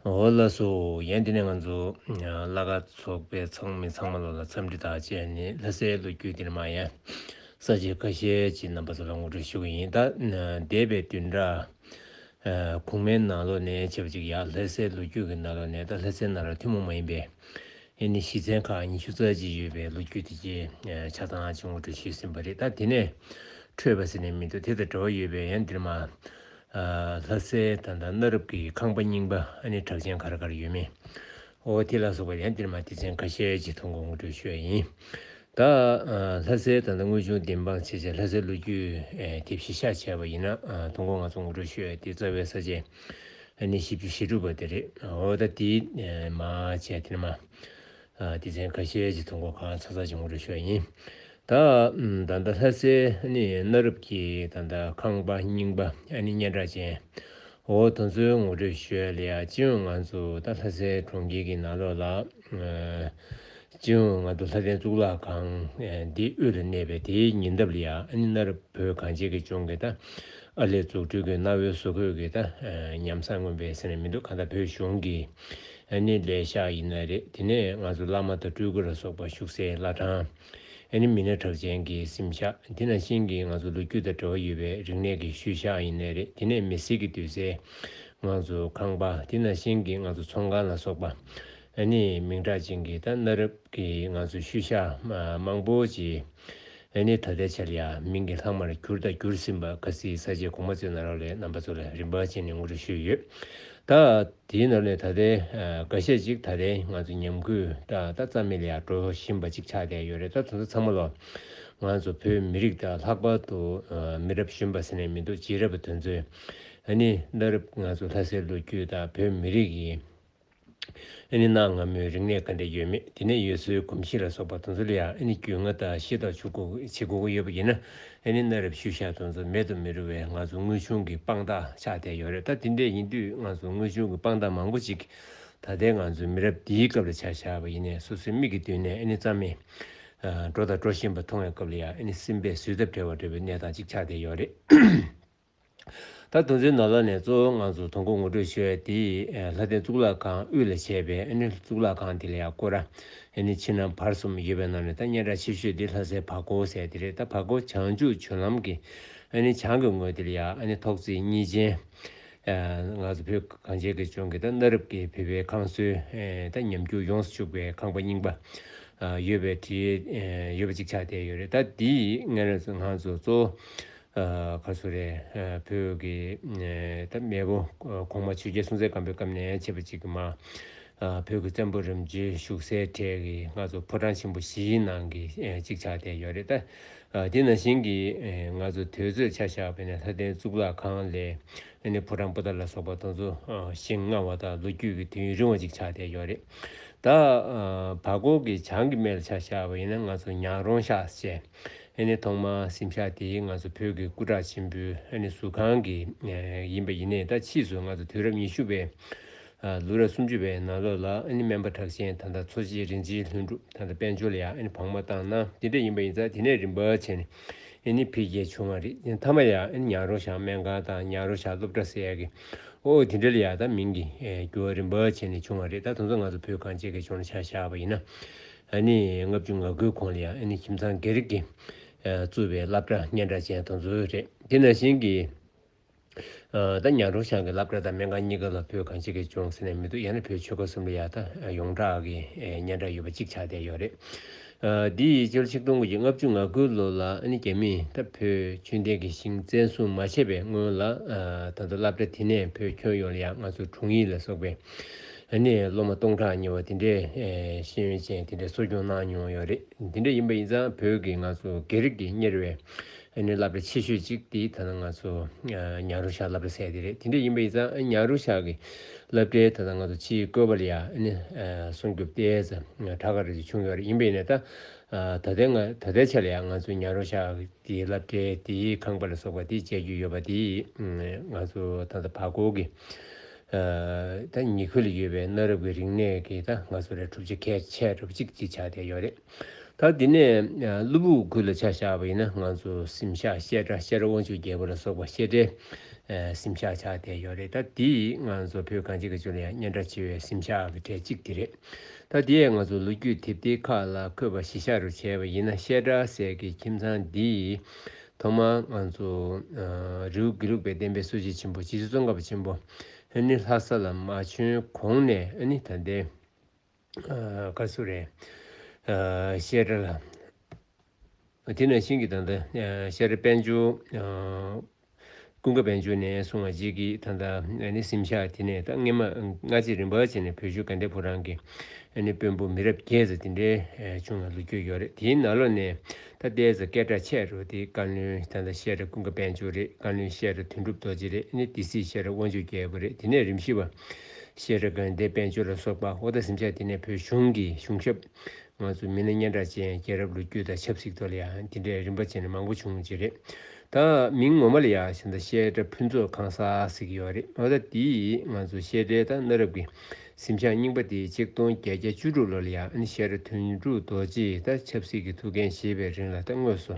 འོ་ལ་སོ། ཡན་དེ་ནས་ང་ཚོ་བླ་ག་ཚོགས་པའི་ཚང་མི་ཚང་མ་ལོ་ལ་འཚམས་འདྲི་དག་བྱས་ནས་ལྷ་སའི་ལོ་རྒྱུས་འདིར་མ་ཡན་ས་བཅད་ཁ་ཤས་ཀྱི་རྣམ་པ་ཚོ་ལ་ངོ་སྤྲོད་ཞུ་གི་ཡིན། ད་འདས་པའི་དུས་འདྲ་གོང་མའི་ནང་ལོ་ནས་བྱེད་པ་ཅིག་ཡང་ལྷ་སའི་ལོ་རྒྱུས་ཀྱི་ནང་ལོ་ནས་ད་ལྷ་སའི་ནང་ལོ་ཐུན་མོང་མ་ཡིན་པའི་ཨེ་ནི་ཞིས་ཚན་ཁག་ཉི་ཤུ་རྩ་གཅིག་ཡོད་པའི་ལོ་རྒྱུས་དེ་གྱི་ཆ་ཚང་གཅིག་ངོ་སྤྲོད་བྱས་ཟིན་པ་རེད་ད་དེ་ནས་འཕྲོས་པ་ཟེར་ནས་མི་འདུག་དེ་དང་འབྲེལ་བ་ཡོད་པའི་ཡན་འདིར་མ། ལྷ་སའི་ད་ལྟ་གནའ་རབས་ཀྱི་ཁང་པ་རྙིང་པ་ཨ་ནི་བྲག་ཅན་གར་གར་ཡོད་མེད་ཨོ་ཐི་ལ་སོགས་པ་ཡང་འདིར་མ་ཏི་ཚན་ཁ་ཤས་ཀྱི་ཐོ་འགོད་ངོ་སྤྲོད་ཞུ་བ་ཡིན། ད་ལྷ་སའི་ད་ལྟ་དངོས་བྱུང་བདེན་དཔང་བྱེད་སའི་ལྷ་སའི་ལོ་རྒྱུས་དེབ་གཞི་ཤ་ཆེ་བ་ཡིན་ན་ཐོ་འགོད་ང་ཚོ་ངོ་སྤྲོད་ཞུ་ཡ་དེ་རྩ་བའི་ས་བཅད་ཨ་ནི་བཞི་བཅུ་ཞེ་དྲུག་པ་དེ་རེད་ཨོ་ད་དེ་མ་བྱས་དེར་མ་སྡེ་ཚན་ཁ་ཤས་ཀྱི་ཐོ་འགོད་ཁང་ཚ་ཚ་འབྱུང་རེ་ཤོག་ཡིན། ད་ད་ལྟ་ལྷ་སའི་ནི་གནའ་རབས་ཀྱི་ད་ད་ཁང་པ་རྙིང་པ་ཨ་ནི་སྙན་གྲགས་ཅན། འོ་དོ་ཚོའི་ངོ་སྤྲོད་ཞོས་ལ་ཅི་ཡང་ང་ཚོ་ད་ལྷ་སའི་གྲོང་ཁྱེར་གྱི་ནང་ལོགས་ལ་ཅི་ཡང་ང་ད་ལྷ་སྟེང་གཙུག་ལག་ཁང་འདི་དབུས་ལ་གནས་པའི་དེའི་ཉེ་འདབས་ལ་ཡ་ཨ་ནི་གནའ་རབས་བོད་གངས་ཅན་གྱི་ལྗོངས་ཀྱི་ད་ཨ་ལས་འཛུགས་སྐྲུན་གྱི་གནའ་བོའི་བཟོ་བཀོད་ཀྱི་ད་ཉམས་བཟང་མངོན་པའི་ཟེར་ནས་མི་འདུག་གང་ལྟར་བོད་གཞུང་གིས་ཨ་ནི་ལས་ཤག་ཡིན་ན་རེད་དེ་ནས་ང་ཚོ་བླ་མ་དང་སྤྲུལ་སྐུ་ལ་སོགས་པ་བཞུགས་སའི་བླ་བྲང། ཨ་ནི་མི་སྣ་གྲགས་ཅན་གྱི་སིམ་ཤག་དེ་ནང་བཞིན་གྱི་ང་ཚོ་ལོ་རྒྱུས་དང་འབྲེལ་བ་ཡོད་པའི་རིག་གནས་ཀྱི་ཤུལ་ཤག་ཡིན་ན་རེད་དེ་ནས་མི་སེར་གྱི་འདུས་སའི་ང་ཚོ་ཁང་པ་དེ་ནང་བཞིན་གྱི་ང་ཚོ་ཚོང་ཁང་ལ་སོགས་པ། ཨ་ནི་མིང་གྲགས་ཅན་གྱི་དང་གནའ་རབས་ཀྱི་ང་ཚོ་ཤུལ་ཤག་མང་པོ་ཅི། ཨེ་ནི་ད་ལྟའི་ཆར་ཡང་མིང་གི་ལྷག་མར་གྱུར་དང་གྱུར་ཟིན་པ་ག་སིའི་ས་ཆའི་གོང་མ་ཚོའི་ནང་རག་ལས་རྣམ་པ་ཚོ་ལ་རིན་པ་ཅན་ནས་ངོ་སྤྲོད་ཞུས་ཡོད། ད་དེའི་ནང་ནས་ད་ལྟའི་འགའ་ཤས་ཅིག་ད་ལྟའི་ང་ཚོ་ཉམས་གུད་ད་ལྟ་རྩ་མེད་ལ་ཡང་འགྲོ་བཞིན་པ་ཅིག་ཆགས་བསྡད་ཡོད་རེད་ད་དེ་ཚོ་ཚང་མ་ལ་ང་ཚོ་བོད་མི་རིགས་དང་ལྷག་པར་དུ་མི་རབས་གཞོན་པ་ཟེར་ནས་མི་འདུག་རྗེས་རབས་པ་དེ་ཚོས་ཨེ་ནི་བླ་རབས་ང་ཚོ་ལྷ་སའི་ལོ་རྒྱུས་དང་བོད་མི་རིགས་ཀྱི། ཨེ་ནི་གནའ་སྔ་མོའི་རིག་གནས་ག་འདྲས་ཡོད་མེད་དེ་ནས་ཡུལ་སྲོལ་གོམས་གཤིས་ལ་སོགས་པ་དོན་ཚུལ་ཡང་ཨེ་ནི་རྒྱུས་མངའ་དང་ཤེས་རྟོགས་བྱེད་དགོས་ཀྱི་ཡོད་པ་ཡིན་ན་ཨེ་ནི་གནའ་རབས་ཤུལ་བཞག་དོན་ཚུལ་མེད་དུ་མི་རུང་བས་ང་ཚོ་དངོས་བྱུང་གི་དཔང་རྟགས་ཆགས་བསྡད་ཡོད་རེད་ད་དེ་འདྲས་ཡིན་དུས་ང་ཚོ་དངོས་བྱུང་གི་དཔང་རྟགས་མང་པོ་ཅིག་ད་ལྟའི་ང་ཚོའི་མི་རབས་འདིའི་སྐབས་ལ་ཆ་བཞག་པ་ཡིན་ནས་སོ་སོའི་མིག་གི་མདུན་ནས་ཨེ་ནི་རྩ་མེད་འགྲོ་དང་འགྲོ་བཞིན་པ་མཐོང་བའི་སྐབས་ལ་ཡང་ཨེ་ནི་སེམས་པས་བཟོད་ཐབས་བྲལ་བ་འདྲ་བའི་གནས་སྟངས་ཅིག་ཆགས་བསྡད་ཡོད་རེད། ད་དུང་ཚོའི་ནོར་ལྷ་ནས་གཙོ་བོའི་ངང་ཚུལ་ཐོ་འགོད་ངོ་སྤྲོད་བྱས་བ་དེ་ལྷ་ལྡན་གཙུག་ལག་ཁང་དབུས་ལ་བྱས་པའི་ཨེ་ནི་གཙུག་ལག་ཁང་དེ་ལ་ཡང་བཀོད་རྭཨེ་ནི་ཕྱི་ནང་བར་གསུམ་ཡོད་པའི་ནང་ནས་ད་སྙན་གྲགས་ཆེ་ཤོས་དེ་ལྷ་སའི་བ་གོ་བོ་ཟེར་དེ་རེད་ད་བ་གོ་བོ་བྱང་ཆུ་བྱུར་ལམ་གྱི་ཨེ་ནི་བྱང་གི་ངོས་དེ་ལ་ཡང་ཨེ་ནི་ཐོག་རྩིག་གཉིས་ཅན་ང་ཚོ་བོད་གངས་ཅན་གྱི་ལྗོངས་ཀྱི་ད་གནའ་རབས་ཀྱི་བོད་པའི་ཁང་སོའི་ད་ཉམས་འགྱུར་ཡོངས་སུ་བཅུག་པའི་ཁང་པ་རྙིང་པ་ཡོད་པའི་གྲི་ཡོད་པ་གཅིག་ཆགས་བསྡད་ཡོད་རེད་ད་དེའི་ངང་ཚུལ་གཙོ་བོ་ཁ་སུ་རེ། བོད་ཀྱི། མེས་པོ་གོང་མ་ཆོས་རྒྱལ་སྲོང་བཙན་སྒམ་པོའི་སྐབས་ནས་མཆེད་པ་གཅིག་གི་མ། བོད་ཀྱི་བཙན་པོ་རིམ་བརྒྱུད་བཞུགས་སའི་གྲས་ཀྱི་སྔ་ཚོགས་ཕོ་བྲང་ཆེན་པོ་བཞིའི་ནང་གི་གཅིག་ཆགས་བསྡད་ཡོད་རེད་དཱ། དེ་ན་གཞན་གྱི་ང་ཚོ་དོལ་ཚོས་ཆ་བཞག་པའི་ནས་ལྷ་ལྡན་གཙུག་ལག་ཁང་ལས་ནི་ཕོ་བྲང་པོ་ཏཱ་ལ་སོགས་པ་དང་ཚོ་ཞིང་མངའ་བ་དང་ལོ་རྒྱུས་ཀྱི་དུས་ཡུན་རིང་བ་གཅིག་ཆགས་བསྡད་ཡོད་རེད་དཱ། བར་སྐོར་གྱི་བྱང་གི་མེ་ལ་ཆ་བཞག་པ་ཡིན་ན་ང་ཚོ་ཉག་རོང་ཤགས་བཅས། ཨེ་ནི་ཐོག་མར་སེམས་ཤ་དེ་ང་ཚོ་བོད་ཀྱི་སྐུ་དྲག་ཆེན་པོའི་ཨེ་ནི་ཟུར་ཁང་གི་ཡིན་པ་ཡིན་ནའི་ད་ཕྱིས་སུ་ང་ཚོ་དུས་རབས་ཉི་ཤུ་བའི་ལོ་རབས་སུམ་ཅུ་བའི་ནང་ལོ་ལ་ཨེ་ནི་སྨན་པ་གྲགས་ཆེན་ད་ད་འཚོ་བྱེད་རིན་ཆེན་ལྷུན་གྲུབ་ད་ད་དཔལ་འབྱོར་ལ་ཡང་ཨེ་ནི་བག་མ་བཏང་ན་དེ་འདྲ་ཡིན་པ་ཡིན་ཙང་དེ་ནས་རིམ་པར་བྱས་ནས་ཨེ་ནི་འཕེལ་རྒྱས་བྱུང་བ་རེད་མཐའ་མ་ཡང་ཨེ་ནི་ཉག་རོང་ཞང་སྨན་ཁང་དང་ཉག་རོང་ཞང་སློབ་གྲྭ་ཟེར་ཡ་གི་ཨོ་ཨོ་དེ་འདྲ་ལ་ཡང་ད་མིང་གི་འགྱུར་བ་རིམ་པར་བྱས་ནས་བྱུང་བ་རེད་ད་དུང་ཚོ་ང་ཚོ་བོད་གངས་ཅན་གྱི་ལྗོངས་ལ་ཆ་བཞག་པ་ཡིན་ན་ཨ་ནེ་ལྔ་བཅུ་ང་དགུའི་གོང་ལ་ཡང་ཨ་ནེ་ཁྱིམ་ཚང་སྒེར་རིགས་ཀྱིས་གཙོས་པའི་བླ་བྲང་སྙན་གྲགས་ཅན་དང་འཛོལ་རེད། དེ་ནང་བཞིན་གྱིས། ད་ཉག་གྲོང་བྱང་གི་བླ་བྲང་དང་སྨན་ཁང་གཉིས་ཀ་ལ་བོད་གངས་སྐྱིད་ཀྱི་ལྗོངས་ཟེར་ནས་མི་འདུག་ཡང་ན་བོད་ཆོལ་ཁ་གསུམ་ལ་ཡང་ད་ཡོངས་གྲགས་ཀྱི་སྙན་གྲགས་ཡོད་པ་གཅིག་ཆགས་བསྡད་ཡོད་རེད། འདི་ཡི་ཕྱི་ལོ་ཆིག་སྟོང་དགུ་བརྒྱ་ལྔ་བཅུ་ང་དགུའི་ལོ་ལ་ཨ་ནེ་རྒྱ་མིས་ད་བོད་ཆོས་ལྡན་གྱི་ཞིང་བཙན་བཟུང་མ་བྱས་པའི་སྔོན་ལ་ད་དུ་བླ་བྲ་དེ་ནས་བོད་ཁྱོན་ཡོངས་ལ་ཡང་ང་ཚོ་དྲུང་ཡིག་ལ་སོགས་པའི་ཨ་ནེ་སློབ་མ་སྟོང་ཕྲག་ཉེ་བ་དེ་འདྲའི་ཤེས་ཡོན་ཅན་དེ་འདྲའི་གསོ་སྐྱོང་གནང་མྱོང་ཡོད་རེད་དེ་འདྲ་ཡིན་པ་ཡིན་ཙང་བོད་ཀྱི་ང་ཚོ་དགེ་རིག་གི་གཉེར་བའི་ཨ་ནེ་བླ་བྲེ་ཆེ་ཤོས་ཅིག་དེ་ད་ལྟ་ང་ཚོ་ཉྭ་རོ་ཤག་བླ་བྲེ་ཟེར་དེ་རེད་དེ་འདྲ་ཡིན་པ་ཡིན་ཙང་ཉྭ་རོ་ཤག་གི་བླ་བྲེ་ད་ལྟ་ང་ཚོ་སྤྱིའི་བཀོད་པ་ལ་ཡ་ཨ་ནེ་སྲུང་སྐྱོབ་ལྟས་ས་ཁྲ་ཁ་རེ་ཅིག་བྱུང་ཡོད་རེད་ཡིན་པ་ཡིན་ནའི་ད་ད་ལྟའི་ང་ད་ལྟའི་ཆ་ལ་ཡ་ང་ཚོ་ཉྭ་རོ་ཤག་གི་བླ་བྲེ་དེའི་ཁང་པ་ལ་སོགས་པ་དེ་སྤྱད་རྒྱུ་ཡོད་པ་དེ་ང་ཚོ་ད་ད་བར་སྐོར་གྱི་ད་ཉི་ཁུལ་ཡོད་པའི་གནའ་རབས་ཀྱི་རིག་གནས་ཀྱི་ད་ང་ཚོ་རེ་གྲུབ་ཆ་ཁས་ཆེ་གྲུབ་ཅིག་ཅིག་ཆགས་བསྡད་ཡོད་རེད། ད་འདི་ནས་གླུ་བུག་ཁུལ་ལ་ཆ་བཞག་པ་ཡིན་ན་ང་ཚོ་སིམ་ཤག་བཤད་གྲྭ་བཤད་གྲྭ་དབང་ཕྱུག་རྒྱལ་པོ་ལ་སོགས་པ་བཤད་གྲྭའི་སིམ་ཤག་ཆགས་བསྡད་ཡོད་རེད་ད་འདི་ང་ཚོ་བོད་གངས་ཅན་གྱི་ཅུང་ཡང་སྙན་གྲགས་ཆེ་བའི་སིམ་ཤག་གི་གྲས་གཅིག་དེ་རེད། ད་འདིའི་ང་ཚོ་ལོ་རྒྱུས་དེབ་ཐེར་ཁག་ལ་འཁོད་པ་གཞི་ཤག་རུ་བྱས་པ་ཡིན་ན་བཤད་གྲྭ་ཟེར་གྱི་ཁྱིམ་ཚང་འདིའི་ཐོག་མར་ང་ཚོ་རེའུ་དགེ་ལུགས་པའི་བསྟན་པའི་སྲོལ་འབྱེད་ཆེན་པོ་སྤྱི་ཚོགས་ཀ་བ་ཆེན་པོ་ཨ་ནི་ལྷ་ས་ལ་མ་བྱོན་གོང་ནས་ཨ་ནི་ད་ལྟའི་ཀ་སུ་རའི་བཤད་གྲྭ་ལ་དེ་ནས་ཤིང་གི་དང་ད་ཤར་དཔལ་འབྱོར་ཀུན་དགའ་བན་ཆོས་ནས་གསུང་བ་རྗེས་ཀྱི་ད་ལྟ་ནི་སིམ་ཤག་དེ་ནས་ད་སྔས་མ་སྔ་རྗེས་རིམ་པ་བྱས་ནས་བོད་ཆོས་ག་འདྲའི་བུ་རང་གི་ནི་དཔོན་པོ་མི་རབས་བརྒྱད་ཟེར་དེ་འདྲའི་བྱུང་ན་ལུས་སྐྱོ་ཡོད་རེད་དེའི་ན་ལོ་ནས་ད་ལྟའི་ཟ་སྐད་གྲགས་ཆད་རོ་དེ་བཀའ་བློན་ད་ལྟ་བཤད་གྲྭ་ཀུན་དགའ་བན་ཆོས་རེད་བཀའ་བློན་བཤད་གྲྭ་དོན་གྲུབ་རྡོ་རྗེ་རེད་ནི་དེ་སྲིད་བཤད་གྲྭ་དབང་ཕྱུག་རྒྱལ་པོ་རེད་དེ་ནས་རིམ་བཞི་བ་བཤད་གྲྭ་དགོན་སྡེ་བན་ཆོས་ལ་སོགས་པ་ཨོ་ད་སིམ་ཤག་དེ་ནས་བོད་གཞུང་གི་གཞུང་ཞབས། ང་ཚོ་མི་སྣ་སྙན་གྲགས་ཅན་རྒྱལ་རབས་ལོ་རྒྱུས་དང་ཆབ་སྲིད་ཐོག་ལ་ཡང་དེ་འདྲའི་རིམ་པ་ཅན་མང་པོ་བྱུང་རྗེས་རེད། ད་མིང་ངོ་མ་ལ་ཡང་ཞིང་དང་བཤད་གྲྭ་ཕུན་ཚོགས་ཁང་གསར་ཟེར་གྱི་ཡོད་རེད་ད་ལྟ་དེས་ང་ཚོ་བཤད་གྲྭའི་དང་གནའ་རབས་ཀྱི་གཟིམ་ཤག་རྙིང་པ་དེ་གཅིག་སྟོང་བརྒྱད་བརྒྱ་བཅུ་དྲུག་ལོ་ལ་ཡང་བཤད་གྲྭ་དོན་གྲུབ་རྡོ་རྗེས་ད་ཆབ་སྲིད་ཀྱི་ཐུགས་འགན་བཞེས་པའི་རིང་ལ་ད་དངོས་སུ་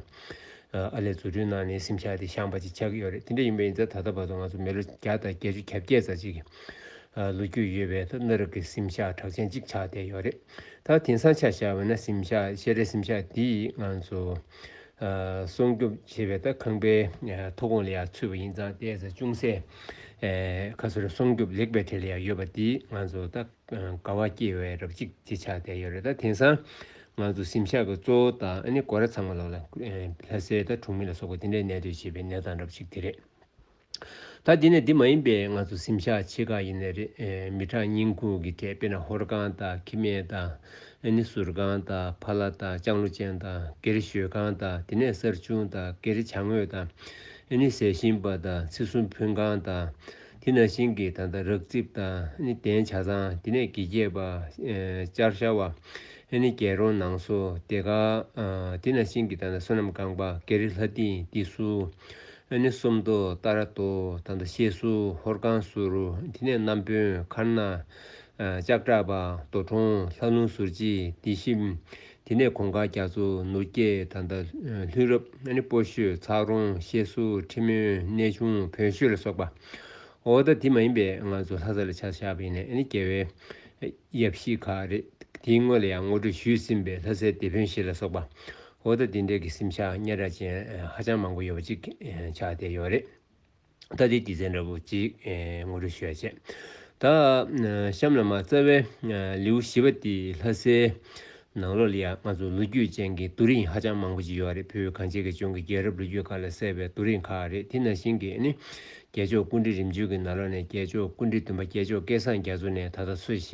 ཨར་ལས་བཟོ་སྐྲུན་གནང་ནས་གཟིམ་ཤག་དེ་བཤངས་པ་ཅིག་ཆགས་ཀྱི་ཡོད་རེད་དེ་འདྲ་ཡིན་པ་ཡིན་ཚེ་ད་ལྟ་བར་དུ་ང་ཚོ་མི་ལོ་བརྒྱ་དང་བརྒྱད་ཅུ་གྱ་བརྒྱད་ཙམ་ཞིག་ལོ་རྒྱུས་ཡོད་པའི་ཐོག་གནའ་རབས་ཀྱི་གཟིམ་ཤག་གྲགས་ཅན་གཅིག་ཆགས་བསྡད་ཡོད་རེད། ད་དེང་སང་ཆ་བཞག་བས་ན་གཟིམ་ཤག་ཤེས་རའི་གཟིམ་ཤག་འདི་ང་ཚོ་སྲུང་སྐྱོབ་བྱེད་པའི་ཐོག་ཁང་པའི་མཐོ་སྒོ་ལ་ཡང་ཚུད་པ་ཡིན་ཙང་བལྟས་ཚེ་ཅུང་ཟད་ཁ་སོར་སྲུང་སྐྱོབ་ལེགས་པའི་གྲས་ལ་ཡང་ཡོད་པ་འདིས་ང་ཚོ་ད་དགའ་བ་སྐྱེས་བས་རབ་གཅིག་ཅེས་ཆགས་བསྡད་ཡོད་རེད་ད་དེང་སང་ང་ཚོ་གཟིམ་ཤག་གི་གཙོ་བོ་དང་ཨ་ནེ་སྒོ་ར་ཚང་མ་ལོག་ལ་ལྷ་སའི་ད་གྲོང་མི་ལ་སོགས་པ་འདི་འདྲའི་གནས་སྡོད་བྱེད་པའི་གནས་སྟངས་རབ་གཅིག་དེ་རེད། ད་འདི་ནས་འདི་མ་ཡིན་པའི་ང་ཚོ་གཟིམ་ཤག་ཕྱེད་ཀ་ཡིན་ནི་རེད་མི་གྲངས་རྙིང་ཁུངས་ཀྱི་ཐད་དཔེ་ན་ཧོར་ཁང་དང་ཁི་སྨད་དང་ནི་ཟུར་ཁང་དང་ཕ་ལ་དང་ལྕང་ལོ་ཅན་དང་སྒེར་ཞོལ་ཁང་དང་དེ་ནས་གསར་བྱུང་དང་སྒེར་བྱང་ངོས་དང་ནི་ཟས་ཞིམ་པ་དང་ཚིགས་གསུམ་ཕུན་ཁང་དང་དེ་ན་ཤིང་གི་ད་ལྟ་རག་རྩིབ་དང་ནི་གདན་བྱ་ཚང་དེ་ནས་དགེ་རྒྱས་པ་ལྕགས་ཤ་བ་ནི་རྒྱལ་རོང་ནང་སོ་དེ་ག་དེ་ན་ཤིང་གི་ད་ལྟ་བསོད་ནམས་རྐང་པ་སྒེར་ལྷ་སྡིངས་འདི་སུ་ཨ་ནི་སུམ་དོ་ཏཱ་ར་དོ་ད་མདའ་ཤེས་སུ་ཧོར་ཁང་ཟུར་དེ་ནས་རྣམ་དཔོན་མཁར་ནག། ལྕགས་བྲག་པ་དོ་གྲོང་ལྷ་ལུང་ཟུར་གྱིས་སྡེ་བཞི། དེ་ནས་གོང་དཀར་རྒྱ་མཚོ་ནུར་སྐྱེས་ད་མདའ་ལྷུན་རབ་ཨ་ནི་སྤོ་ཤོད་ཚག་རོང་ཤེས་སུ་ཁྲི་མོན་གནས་ཆུང་བོན་ཤོད་ལ་སོགས་པ། འོ་ད་དེ་མ་ཡིན་པའི་ང་ཚོ་ལྷ་ས་ལ་ཆ་བཞག་པ་ཡིན་ནས་ཨ་ནི་རྒྱལ་བའི། དབྱེ་གཞི་ཁག་རེད། དེའི་སྔོན་ལ་ཡང་ངོ་སྤྲོད་ཞུས་ཟིན་པའི་ལྷ་སའི་སྡེ་དཔོན་ཞིག་ལ་སོགས་པ། འོ་ད་འདི་འདྲའི་གི་སེམས་ཤ་ཉེ་ར་ཅན་ཧ་ཅང་མང་པོ་ཡོད་པ་ཅིག་ཆགས་བསྡད་ཡོད་རེད། ད་དེའི་དགེ་མཚན་འདྲ་པོ་ཅིག་ངོ་སྤྲོད་ཞུ་ཡ་བྱས། ད་གཤམ་ལ་མ་རྩ་བའི་ལེའུ་བཞི་པ་དེ་ལྷ་སའི་ནང་ལོགས་ལ་ཡང་ང་ཚོར་ལོ་རྒྱུས་ཅན་གྱི་རྡོ་རིང་ཧ་ཅང་མང་པོ་ཞིག་ཡོད་རེད་བོད་གངས་ཅན་གྱི་ལྗོངས་ཀྱི་རྒྱལ་རབས་ལོ་རྒྱུས་ཁག་ལས་གསལ་བའི་རྡོ་རིང་ཁག་རེད་དེ་ནང་བཞིན་གྱི་ནི། རྒྱལ་མཆོག་ཀུན་འདྲི་རིམ་བྱོན་གྱི་ནང་ལོགས་ནས་རྒྱལ་མཆོག་ཀུན་འདྲི་བདུན་པ་རྒྱལ་མཆོག་སྐལ་བཟང་རྒྱ་མཚོ་ནས་ད་ལྟ་འཚོ་བཞེས་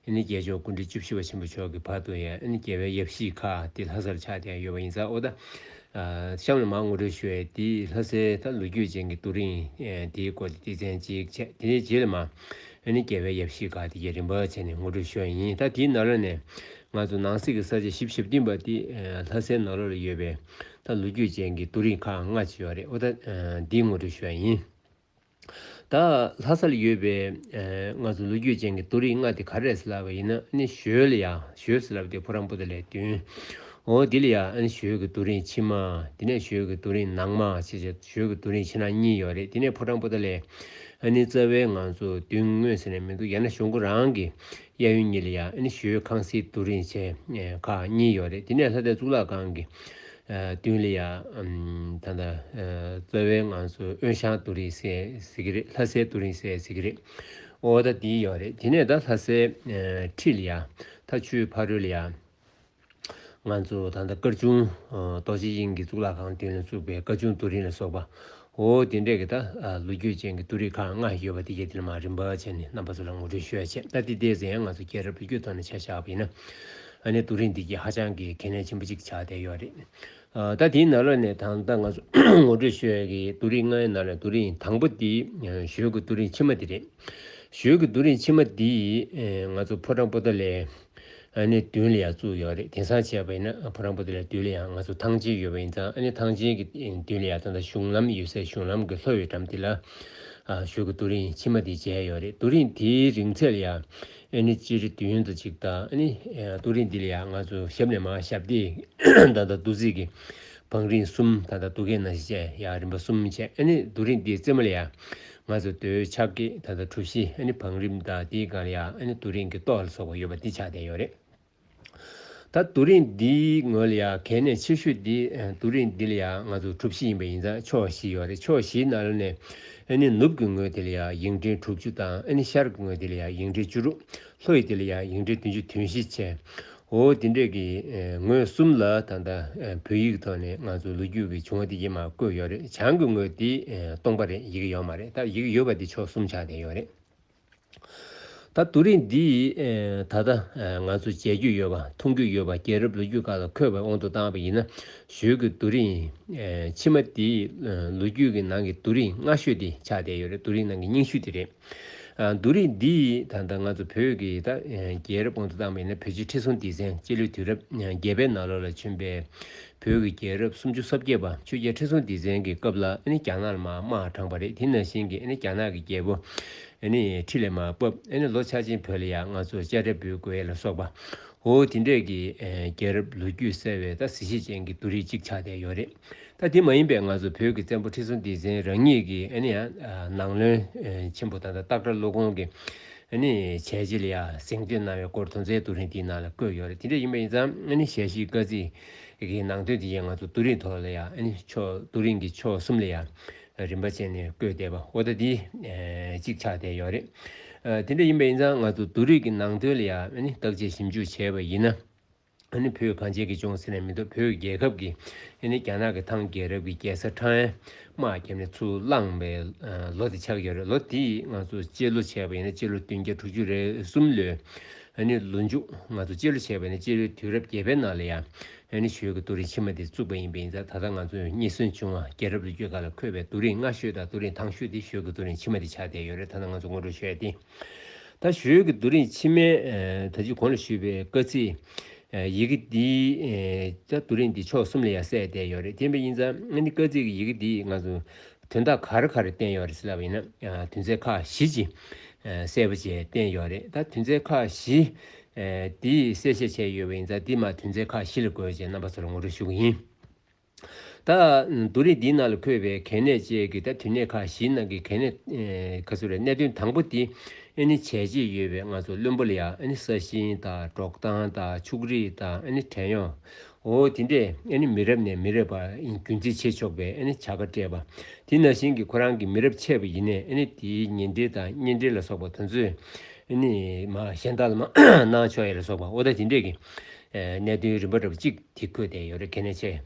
པ། ནི་རྒྱལ་མཆོག་ཀུན་འདྲི་བཅུ་བཞི་བ་ཆེན་པོ་མཆོག་གི་བར་དུ་ཡང་ནི་རྒྱལ་བའི་ཡབ་གཞིས་ཁག་དེ་ལྷ་སར་ཆགས་ཏེ་ཡང་ཡོད་པ་ཡིན་ཚ་ཨོ་ད། གཤམ་ལ་མར་ངོ་སྤྲོད་ཞུ་བའི་དེའི་ལྷ་སའི་ལྷ་ལུས་རྒྱུད་ཅན་གྱི་རྡོ་རིང་དེའི་སྐོར་གྱི་སྡེ་ཚན་གཅིག་བྱས་དེའི་རྗེས་ལ་མར་ནི་རྒྱལ་བའི་ཡབ་གཞིས་དགའ་བདེ་རྒྱས་རིམ་པར་བྱས་ནས་ངོ་སྤྲོད་ཞུ་བ་ཡིན་ད་དེའི་ནཱ་རོ་ནས་ང་ཚོ་ནང་གསེས་ཀྱི་ས་ཆ་བཞི་བཞི་བསྟུན་པ་དེ་ལྷ་སའི་ནཱ་རོ་ལ་ཡོད་པའི་ལྷ་ལུས་རྒྱུད་ཅན་གྱི་རྡོ་རིང་ཁག་ལྔ་བྱས་པ་རེད་འོ་ད་འདིའི་ངོ་སྤྲོད་ཞུ་བ་ཡིན། ད་ལྷ་སར་ཡོད་པའི་ང་ཚོ་ལོ་རྒྱུས་ཅན་གྱི་རྡོ་རིང་ལྔ་དེ་ག་རེད་ཟེར་ལབ་པ་ཡིན་ན་ནི་ཞོལ་ལ་ཡ་ཞོལ་ཟེར་ལབ་དེ་ཕོ་རང་པོ་ཏི་ལས་བསྟུན། འོ་དེ་ལ་ཡ་ནི་ཞོལ་གྱི་རྡོ་རིང་ཕྱི་མ་དེ་ནས་ཞོལ་གྱི་རྡོ་རིང་ནང་མ་ཞེས་བྱ་ཞོལ་གྱི་རྡོ་རིང་ཕྱི་ནང་གཉིས་ཡོད་རེད་དེ་ནས་ཕོ་བྲང་པོ་ཏི་ལས་ནི་རྩ་བའི་ང་ཚོ་མདུན་ངོས་ཟེར་ནས་མི་འདུག་ཡ་ན་གཞུང་ཁོ་རང་གི་གཡས་གཡོན་གཉིས་ལ་ཡ་ནི་ཞོལ་ཁང་སིའི་རྡོ་རིང་ཆེ་ཁག་གཉིས་ཡོད་རེད་དེ་ནས་ལྷ་སྡེ་གཙུག་ལག་ཁང་གི་ཏུན་ལི་ཡ། ད་ལྟ། རྩ་བའི་ང་ཚོ་དབོན་ཞང་དུ་རིང་སེ་ཟེར་གྱི་རེད་ལྷ་སའི་དུ་རིང་སེ་ཟེར་གྱི་རེད། འོ་ད་དེ་ཡག་རེད་དེ་ནས་ད་ལྷ་སའི། ཁྲི་ལི་ཡ། ཐ་ཆུའི་ཕ་རོལ་ལི་ཡ། ང་ཚོ་ད་ལྟ་སྐར་ཆུང། རྡོ་རྗེ་དབྱིངས་ཀྱིས་གཙུག་ལག་ཁང་དུས་ལ་བཙུགས་པའི་སྐར་ཆུང་དུ་རིང་ལ་སོགས་པ། འོ་དེ་འདྲས་ཀྱི་ད་ལོ་རྒྱུ་ཅན་གྱི་ཏུ་རིག་ཁག་ལྔ་ཞིག་ཡོད་པ་དེ་རྒྱ་དེ་ལ་མ་རིན་པ་བྱས་ནས་རྣམ་པ་ཚོ་ལ་ངོ་སྤྲོད་ཞུ་ཡ་བྱས་ད་དེ་འདས་ཟིན་ཡང་ང་ཚོ་སྐྱེས་རབས་བོད་རྒྱུད་ཐོག་ནས་ཆ་བཞག་པ་ཡིན་ན་ནི་ཏུ་རིག་འདི་གྱིས་ཧ་ཅང་གི་གལ་གནད་ཆེན་པོ་གཅིག་ཆགས་བསྡད་ཡོད་རེད། ད་དེའི་ནང་ལོགས་ནས་ད་ལྟ་ང་ཚོ་ངོ་སྤྲོད་ཞུ་ཡ་གྱི་ཏུ་རིག་ལྔའི་ནང་ལས་ཏུ་རིག་དང་པོ་དེ་ཞོལ་གྱི་ཏུ་རིག་ཕྱི་མ་དེ་རེད། ཞོལ་གྱི་ཏུ་རིག་ཕྱི་མ་འདི་ཡིས་ང་ཚོ་ཕོ་བྲང་པོ་ཏཱ་ལའི། ཨ་ནེ་བདུན་ལ་ཡང་བཙུགས་ཡོད་རེད་དེང་སང་བྱས་པ་ཡིན་ན་བུ་རང་བུ་དེ་ལ་བདུན་ལ་ཡང་ང་ཚོ་ཐང་ཆེན་ཡོད་པ་ཡིན་ཙང་ཨ་ནེ་ཐང་ཆེན་གྱི་བདུན་ལ་ཡང་ད་ལྟ་གཞུང་ལམ་ཡོད་སའི་གཞུང་ལམ་གྱི་ལྷོ་ཡི་འགྲམ་དེ་ལ་ཞོལ་གྱི་རྡོ་རིང་ཕྱི་མ་དེ་མཇལ་ཡོད་རེད་རྡོ་རིང་དེའི་རིང་ཚད་ལ་ཡང་ཨ་ནེ་སྤྱི་རེ་བདུན་དང་གཅིག་ད་ཨ་ནེ་རྡོ་རིང་འདི་ལ་ཡང་ང་ཚོ་ཞབས་ནས་མ་ཞབས་ཏེ་ད་ལྟ་རྡོ་རྩིག་གི་བང་རིང་གསུམ་ད་ལྟ་རྡོ་སྐས་ནང་བཞིན་བཅས་ཡང་རིམ་པ་གསུམ་བཅས་ཨ་ནེ་རྡོ་རིང་དེའི་རྩེ་མོ་ལ་ཡང་ང་ཚོས་འདོད་ཆགས་ཀྱིས་ད་ལྟ་གྲུ་བཞི་ནི་བང་རིམ་དང་དེའི་སྒང་ཡ་ནི་དུ་རིང་གི་ཏོག་ལ་སོགས་པ་ཡོད་པ་འདི་ཆགས་བསྡད་ཡོད་རེད། ད་དུ་རིང་འདིའི་ངོས་ལ་ཡ་གལ་གནད་ཆེ་ཤོས་འདི་དུ་རིང་འདི་ལ་ཡ་ང་ཚོ་གྲུ་བཞི་ཡིན་པ་ཡིན་ཙང་ཕྱོགས་བཞི་ཡོད་རེད་ཕྱོགས་བཞིའི་ནཱ་ལ་ནས་ནུབ་ཀྱི་ངོས་དེ་ལ་ཡ་ཡིག་འབྲེལ་དྲུག་ཅུ་དང་ཤར་གྱི་ངོས་དེ་ལ་ཡ་ཡིག་འབྲེལ་བཅུ་དྲུག་ལྷོ་ཡི་དེ་ལ་ཡང་ཡིག་འབྲི་བདུན་ཅུ་དོན་བཞི་བྱས། འོ་དེ་འདྲས་ཀྱི་ངོས་གསུམ་ལ་ད་ལྟ་བོད་ཡིག་ཐོག་ནས་ང་ཚོ་ལོ་རྒྱུས་ཀྱི་བྱུང་བ་དེ་ཡིག་མ་བཀོད་ཡོད་རེད་བྱང་གི་ངོས་དེ་སྟོང་པ་རེད་ཡིག་ཡོད་མ་རེད་ད་ཡིག་ཡོད་པ་དེ་ཕྱོགས་གསུམ་ཆགས་བསྡད་ཡོད་རེད། ད་དུ་རིགས་འདི་ད་ལྟ་ང་ཚོ་མཇལ་རྒྱུ་ཡོད་པ་མཐོང་རྒྱུ་ཡོད་པ་རྒྱལ་རབས་ལོ་རྒྱུས་ཁག་ལ་འཁོད་པའི་དབང་དུ་བཏང་བ་ཡིན་ན་ཞོལ་གྱི་རྡོ་རིང་ཕྱི་མ་དེ་ལོ་རྒྱུས་ཀྱི་ནང་གི་རྡོ་རིང་སྔ་ཤོས་དེ་ཆགས་བསྡད་ཡོད་རེད་རྡོ་རིང་ནང་གི་རྙིང་ཤུལ་དེ་རེད། བསྡུ་རིས་འདི་ཡིས་ད་ལྟ་ང་ཚོ་བོད་ཀྱི་ད་རྒྱལ་རབས་གོང་དུ་བཏང་བའི་ཡིན་ན་བོད་རྗེ་ཁྲི་སྲོང་ལྡེ་བཙན་སྤྱི་ལོའི་དུས་རབས་བརྒྱད་པའི་ནང་ལོ་ལ་བྱོན་པའི་བོད་ཀྱི་རྒྱལ་རབས་སུམ་ཅུ་སོ་བརྒྱད་པ་ཆོས་རྒྱལ་ཁྲི་སྲོང་ལྡེ་བཙན་གྱི་སྐབས་ལ་རྒྱ་ནག་ལ་མ་དམག་དྲངས་པ་རེད་དེ་ནང་བཞིན་གྱི་རྒྱ་ནག་གི་རྒྱལ་པོ་ཁྲི་ལས་མ་བབས་ལོ་ཆགས་ཅན་བོད་ལ་ཡང་ང་ཚོར་དཔྱ་ཁྲལ་འབུལ་དགོས་ལ་སོགས་པའོ་དེ་འདྲས་ཀྱི་རྒྱལ་རབས་ལོ་རྒྱུས་གསལ་བའི་གཟི་བྱེས་ཅན་གྱི་བསྡུ་རིས་གཅིག་ཆགས་བསྡད་ཡོད་རེད། ད་དེ་མ་ཡིན་པའི་ང་ཚོ་བོད་ཀྱི་བཙན་པོ་ཁྲི་སྲོང་ལྡེ་བཙན་རང་ཉིད་ཀྱི་ནང་བློན་ཆེན་པོ་དང་སྟག་སྒྲ་ཀླུ་གོང་གིས་བྱས་རྗེས་ལ་ཡང་གཟེངས་བསྟོད་གནང་བའི་སྐོར་དོན་ཚན་ཏུ་རིང་དེའི་ནང་ལ་བཀོད་ཡོད་རེད་དེ་འདྲ་ཡིན་པ་ཡིན་ཙང་ཞལ་བཞེས་བཀའ་གཙིགས་ཀྱི་ནང་དོན་དེ་ཡང་ང་ཚོ་ཏུ་རིང་ཐོག་ལ་ཡང་ཏུ་རིང་གི་ཕྱོགས་གསུམ་ལ་ཡང་རིམ་པ་ཅན་ནས་བཀོད་བསྡད་པ་འོ་ད་དེ་གཅིག་ཆགས་བསྡད་ཡོད་རེད་དེ་འདྲ་ཡིན་པ་ཡིན་ཙང་ང་ཚོ་ཏུ་རིང་གི་ནང་དོན་ལ་ཡང་བརྟག་དཔྱད་ཞིབ་འཇུག་བྱས་པ་ཡིན་ན། ཨ་ནི་བོད་གངས་ཅན་གྱི་ལྗོངས་ཟེར་ནས་མི་འདུག་བོད་རྒྱལ་ཁབ་ཀྱི་ཨ་ནི་རྒྱ་ནག་གི་ཐང་རྒྱལ་རབས་ཀྱི་རྒྱལ་ས་ཁྲང་ཨན་དམག་བརྒྱབ་ནས་ཚུར་བླངས་པའི་ལོ་དེ་ཆགས་ཀྱི་རེད་ལོ་དེ་ང་ཚོ་སྤྱི་ལོ་བྱས་པ་ཡིན་ན་སྤྱི་ལོ་བདུན་བརྒྱ་དྲུག་ཅུ་རེ་གསུམ་ལོའི་ཨ་ནི་ལོ་མཇུག་ང་ཚོ་སྤྱི་ལོ་བྱས་པ་ཡིན་ན་སྤྱི་ལོའི་དུས་རབས་བརྒྱད་པའི་ནང་ལ་ཡང་ཨ་ནི་ཞོལ་གྱི་རྡོ་རིང་ཕྱི་མ་དེ་བཙུགས་པ་ཡིན་པས་ཡིན་ད་ད་ང་ཚོ་རྙེད་སོན་བྱུང་བ་རྒྱལ་རབས་ལོ་རྒྱུས་ཁག་ལ་འཁོད་པའི་རྡོ་རིང་སྔ་ཤོས་དང་རྡོ་རིང་ཐང་ཤོས་དེ་ཞོལ་གྱི་རྡོ་རིང་ཕྱི་མ་དེ་ཆགས་བསྡད་ཡོད་རེད་ད་ང་ཚོ་སྔོན་འགྲོ་བྱས་ཏེ། ད་གཞོན་གྱི་རྡོ་རིང་ཕྱི་མའི་ད་གཅིག་གོང་ལ་ཞུས་པའི་བཀའ་གཙིགས་ཡི་གེ་འདི་ད་རྡོ་རིང་འདི་ཕྱོགས་གསུམ་ལ་ཡང་གསལ་བསྡད་ཡོད་རེད་དེ་བས་ཡིན་ཙང་ང་འདི་བཀའ་གཙིགས་ཀྱི་ཡི་གེ་འདི་ང་ཚོ་དོན་དག་ག་རེ་ག་རེ་བསྟན་ཡོད་རེད་ཟེར་ལབ་པ་ཡིན་ན་དོན་ཚན་ཁག་བཞི་ཅིག་གསལ་པོ་བྱས་བསྟན་ཡོད་རེད་ད་དོན་ཚན་ཁག་བཞི་འདི་གསལ་བཤད་བྱས་ཡོད་པ་ཡིན་ཙང་འདི་མ་དོན་ཚན་ཁག་བཞི་ལ་དགོས་ཅེས་རྣམ་པ་ཚོ་ལ་ངོ་སྤྲོད་ཞུ་གི་ཡིན། ད། བསྡུ་རིས་འདིའི་ནང་ལ་འཁོད་པའི་གལ་གནད་བཅས་ཀྱི་ད་དུས་གནད་ཁག་བཞིའི་ནང་གི་གལ་གནད། གནད་དོན་དང་པོ་དེ་ནི་བྱས་རྗེས་ཡོད་པའི་ང་ཚོ་བློན་པོ་ལ་ཡ་ས་ཞིང་དང་འབྲོག་ཐང་དང་ཕྱུགས་རིགས་དང་བྲན་གཡོག་འོ་དེ་འདྲས་མི་རབས་ནས་མི་རབས་བར་རྒྱུན་འཛིན་བྱེད་ཆོག་པའི་བྱ་དགའ་སྤྲད་པ། དེ་ན་ཞིང་གི་ཁོ་རང་གི་མི་རབས་ཆད་པ་ཡིན་ནས་དེའི་ཉེ་འབྲེལ་དང་གཉེན་འབྲེལ་ལ་སོགས་པ་དོན་ཚོད་གཞན་དག་ལ་མ་གནང་ཆོག་ཡ་ལ་སོགས་པ་འོ་ད་དེ་འདྲས་ཀྱི་གནད་དོན་རིམ་པ་འདྲ་པོ་གཅིག། དེ་བཀོད་བསྡད་ཡོད་རེད་གལ་གནད་ཆེ།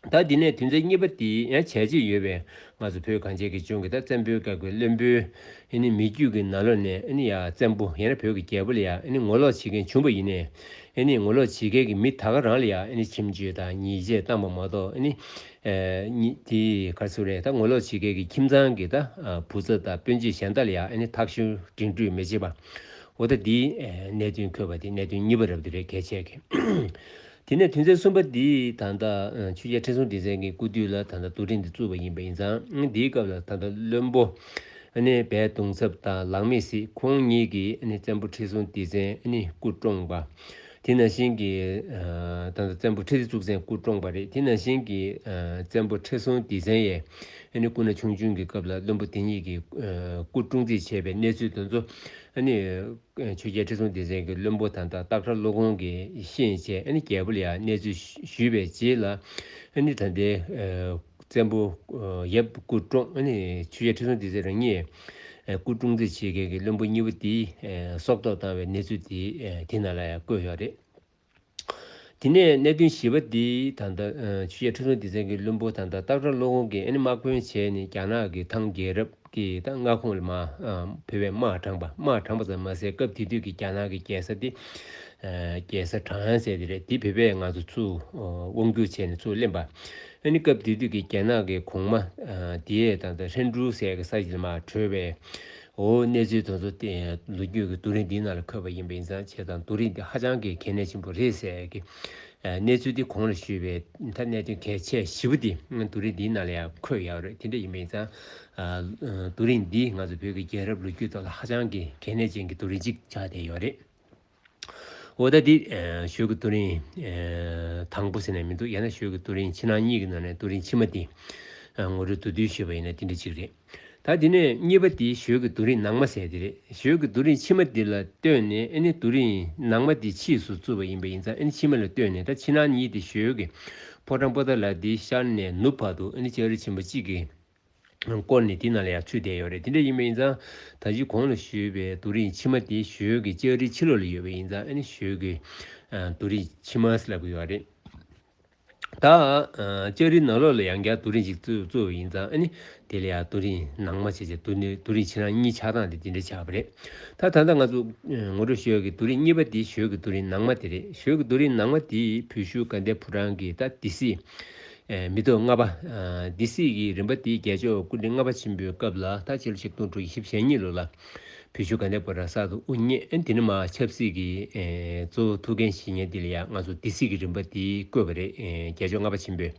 ད་འདི་ནས་དུས་མཚན་གཉིས་པ་དེ་ཡང་བྱས་རྗེས་ཡོད་པས་ང་ཚོ་བོད་གངས་ཅན་གྱི་ལྗོངས་ཀྱི་ད་བཙན་པོའི་བཀའ་བརྒྱུད་བློན་པོའི་ནི་མི་རྒྱུད་ཀྱི་ན་ལོ་ནས་ནི་ཡ་བཙན་པོ་ཡང་ན་བོད་ཀྱི་རྒྱལ་པོ་ལ་ཡང་ནི་ངོ་ལོག་བྱེད་མཁན་བྱུང་པ་ཡིན་ནས་ནི་ངོ་ལོག་བྱེད་མཁན་གྱི་མི་ད་ག་རང་ལ་ཡང་ནི་ཁྱིམ་རྒྱུད་དང་ཉེས་ཆད་བཏང་པ་མ་གཏོགས་ནི་ནི་དེ་ག་ཚོད་རེད་ད་ངོ་ལོག་བྱེད་མཁན་གྱི་ཁྱིམ་ཚང་གི་ད་བུ་ཚ་དང་སྤུན་མཆེད་གཞན་ད་ལ་ཡང་ནི་ཐག་གཞུ་འགྲིག་འགྲུས་མེད་བྱེད་པ་འོ་ད་འདིའི་གནད་དོན་འཁོད་པ་དེ་གནད་དོན་གཉིས་པ་རབ་ཏུ་རེད་གལ་ཆེ་གི། དེ་ནས་དུས་མཚན་གསུམ་པ་འདི་ད་ལྟ་ཆོས་རྒྱལ་ཁྲི་སྲོང་ལྡེ་བཙན་གྱི་སྐུ་དུས་ལ་ད་ལྟ་དུ་སྒྲིག་འདི་བཙུགས་པ་ཡིན་པ་ཡིན་ཙང་འདིའི་སྐབས་ལ་ད་ལྟ་བློན་པོ་ནི་བལ་གདུང་ཚབ་དང་ལག་མི་སྲིད་ཁོང་གཉིས་ཀྱིས་བཙན་པོ་ཁྲི་སྲོང་ལྡེ་བཙན་སྐུ་བཀྲོངས་པ། དེ་ནང་བཞིན་གྱི་ད་ལྟ་བཙན་པོ་ཁྲི་ལྡེ་གཙུག་བཙན་སྐུ་བཀྲོངས་པ་རེད་དེ་ནང་བཞིན་གྱི་བཙན་པོ་ཁྲི་སྲོང་ལྡེ་བཙན་ཡའི་ཨ་ནི་སྐུ་ན་ཆུང་ཆུང་གི་སྐབས་ལ་བློན་པོ་དེ་གཉིས་ཀྱིས་སྐུ་བཀྲུ་རྩིས་བྱས་པའི་གནས་ཚུལ་དེ་ཚོ་ཨ་ནི། ཆོས་རྒྱལ་ཁྲི་སྲོང་ལྡེ་བཙན་གྱིས་བློན་པོ་དང་ཏག་ཏག་ཁྲ་ལོ་གོང་གི་གཤེན་བཅས་ཨ་ནི་རྒྱལ་པོ་ལ་ཡང་གནས་ཚུལ་ཞུས་པའི་རྗེས་ལ་ཨ་ནི་ད་ལྟའི་བཙན་པོ་ཡབ་སྐུ་བཀྲོངས་ཨ་ནི་ཆོས་རྒྱལ་ཁྲི་སྲོང་ལྡེ་བཙན་རང་ཉིད་སྐུ་བཀྲུ་རྩིས་བྱེད་མཁན་གྱི་བློན་པོ་གཉིས་པོ་དེ་སྲོག་ཐོག་བཏང་བའི་གནས་ཚུལ་དེ་ན་ལ་ཡང་བཀོད་ཡོད་རེད། དེ་ནས་གནས་བདུན་བཞི་བ་འདི་ད་ལྟ་ཆུ་བྱད་ཁྲི་སྲོང་ལྡེ་བཙན་གྱི་བློན་པོ་ད་ལྟ་སྟག་སྒྲ་ལོ་ཀོང་གི་ཨེ་ནི་དམག་དཔོན་བྱས་ནས་རྒྱ་ནག་གི་ཐང་རྒྱལ་རབས་ཀྱི་མངའ་ཁོངས་ལ་བོད་པའི་དམག་དྲངས་པ་དམག་དྲངས་པ་ཙམ་མ་ཟད་སྐབས་དེ་དུས་ཀྱི་རྒྱ་ནག་གི་རྒྱལ་ས་དེ་རྒྱལ་ས་བྲང་ཡང་ཟེར་དེ་རེད་དེ་བོད་པས་ང་ཚོ་ཚུར་དབང་བསྒྱུར་བྱས་ནས་ཚུར་བསླེབས་པ་ཨེ་ནི་སྐབས་དེ་དུས་ཀྱི་རྒྱ་ནག་གི་གོང་མ་དེས་ད་ལྟ་ཧྲན་ཀྲུའུ་ཟེར་གྱི་ས་ཞིག་ལ་མ་གྲོལ་བའི་འོ་གནས་ཚུལ་དོན་གཙོ་བསྟན་ལོ་རྒྱུས་ཀྱི་རྡོ་རིང་འདིའི་ནང་ལ་འཁོད་པ་ཡིན་པས་ཡིན་ཙང་བྱས་ཙང་རྡོ་རིང་འདི་ཧ་ཅང་གི་གལ་གནད་ཆེན་པོ་རེད་ཟེར་གི། གནས་ཚུལ་འདི་གོང་ལ་ཞུས་པའི་མཐའ་གནད་དོན་གལ་ཆེ་བཞི་བོ་དེ་རྡོ་རིང་འདིའི་ནང་ལ་ཡང་འཁོད་ཡག་རེད་དེ་འདྲ་ཡིན་པས་ཡིན་ཙང། རྡོ་རིང་འདི་ང་ཚོ་བོད་ཀྱི་རྒྱལ་རབས་ལོ་རྒྱུས་ཐོག་ལ་ཧ་ཅང་གི་གལ་གནད་ཅན་གྱི་རྡོ་རིང་ཅིག་ཆགས་བསྡད་ཡོད་རེད། འོ་ད་འདི། ཞོལ་གྱི་ཏུ་རིན། དང་པོ་ཟེར་ནས་མི་འདུག་ཡང་ན་ཞོལ་གྱི་ཏུ་རིན་ཕྱི་ནང་གཉིས་ཀྱི་ནང་ནས་ཏུ་རིན་ཕྱི་མ་འདི། ངོ་སྤྲོད་དུ་འདུས་ཞེས་པ་ཡིན་ན་འདི་འདྲ་གཅིག་རེད། ད་འདི་ནས་གཉིས་པ་འདི་ཞོལ་གྱི་ཏུ་རིན་ནང་མ་ཟེར་འདི་རེད་ཞོལ་གྱི་ཏུ་རིན་ཕྱི་མ་འདི་ལ་ལྟོས་ནས་ཨེ་ནི་ཏུ་རིན་ནང་མ་འདི་ཕྱིས་སུ་བཙུར་བ་ཡིན་པ་ཡིན་ཙང་ཨེ་ནི་ཕྱི་མ་ལ་ལྟོས་ནས་ད་ཕྱི་ནང་གཉིས་འདི་ཞོལ་གྱི་ཕོ་བྲང་པོ་ཏཱ་ལ་འདི་ཤར་ནས་ནུབ་བར་དུ་ཨེ་ནི་ལྕགས་རི་ཆེན་པོ་གཅིག་གི། སྐོར་ནི་དེ་ནང་ལ་ཡང་ཚུད་བསྡད་ཡོད་རེད་དེ་འདྲ་ཡིན་པས་ཡིན་ཙང་ད་གཞི་གོང་ལ་བཞུད་པའི་རྡོ་རིང་ཕྱི་མ་དེ་ཞོལ་གྱི་ལྕགས་རིའི་ཕྱི་ལོགས་ལ་ཡོད་པས་ཡིན་ཙང་ཨནི་ཞོལ་གྱི་རྡོ་རིང་ཕྱི་མ་ལབ་དགོས་ཡོད་རེད་ད། ལྕགས་རིའི་ནང་ལོགས་ལ་ཡང་བསྐྱར་རྡོ་རིང་ཞིག་བཙུགས་བའི་ཡིན་ཙང་ཨནི་དེ་ལ་ཡང་རྡོ་རིང་ནང་མ་བྱས་ཅད་རྡོ་རིང་ཕྱི་ནང་གཉིས་ཆགས་སྟངས་དེ་དེ་འདྲ་ཆགས་པ་རེད་ད། ད་ལྟ་ང་ཚོ་ངོ་སྤྲོད་ཞོལ་གྱི་རྡོ་རིང་གཉིས་པ་དེ་ཞོལ་གྱི་རྡོ་རིང་ནང་མ་དེ་རེད་ཞོལ་གྱི་རྡོ་རིང་ནང་མ་དེ་བོད་ཤུལ་དགའ་ལྡན་ཕོ་བྲང་གིས་ད་དེ་སྲིད་མི་ཐུབ་ལྔ་པ། སྡེ་སྲིད་ཀྱིས་རིམ་པ་དེའི་རྒྱལ་མཆོག་སྐུ་ཕྲེང་ལྔ་པ་ཆེན་པོའི་སྐབས་ལ་ད་ཕྱི་ལོ་ཆིག་སྟོང་དྲུག་ཡི་ཤིབ་ཞལ་གཉིས་ལོ་ལ་བོད་ཆོལ་ཁ་ནས་པོ་ར་ས་དུ་དབུ་བརྙེས་དེ་ནི་མ་ཆབ་སྲིད་ཀྱི་གཙོ་བོ་ཐུགས་འགན་བཞེས་ཉེ་དེ་ལ་ཡང་ང་ཚོ་སྡེ་སྲིད་ཀྱི་རིམ་པ་དེའི་བསྐོས་པ་རེད་རྒྱལ་མཆོག་ལྔ་པ་ཆེན་པོས།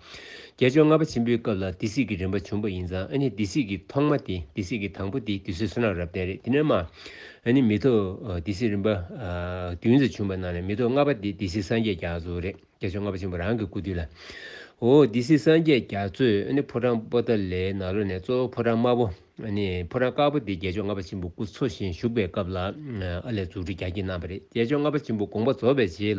རྒྱལ་མཆོག་ལྔ་པ་ཆེན་པོའི་སྐབས་ལ་སྡེ་སྲིད་ཀྱི་རིམ་པ་བྱུང་པ་ཡིན་ཙང་ཨ་ནི་སྡེ་སྲིད་ཀྱི་ཐོག་མ་དེ་སྡེ་སྲིད་ཀྱི་དང་པོ་དེ་དུས་ཚོད་སུ་ནང་རབ་བརྟན་རེད་དེ་ནི་མ་ཨ་ནི་མི་ཐུབ་སྡེ་སྲིད་རིམ་པ་བདུན་ཙམ་བྱུང་པ་ནང་ནས་མི་ཐུབ་ལྔ་པ་དེ་སྡེ་སྲིད་སངས་རྒྱས་རྒྱ་མཚོ་རེད། རྒྱ་མཚོའི་རྔ་བ་ཆེན་པོ་རང་གི་སྐུ་དུས་ལ། འོ་འདི་སྲིད་སངས་རྒྱས་རྒྱ་མཚོས་ཕོ་བྲང་པོ་ཏཱ་ལའི་ནགས་ལོ་ནས་གཙོ་བོ་ཕོ་བྲང་དམར་པོ། ཕོ་བྲང་དཀར་པོ་འདི་རྒྱལ་མཆོག་རྔ་བ་ཆེན་པོ་སྐུ་འཚོ་བཞིན་བཞུགས་པའི་སྐབས་ལ་ཨ་ལས་འཛུགས་སྐྲུན་རྒྱ་སྐྱེད་གནང་བ་རེད་རྒྱལ་མཆོག་རྔ་བ་ཆེན་པོ་དགོངས་པ་རྫོགས་པའི་རྗེས་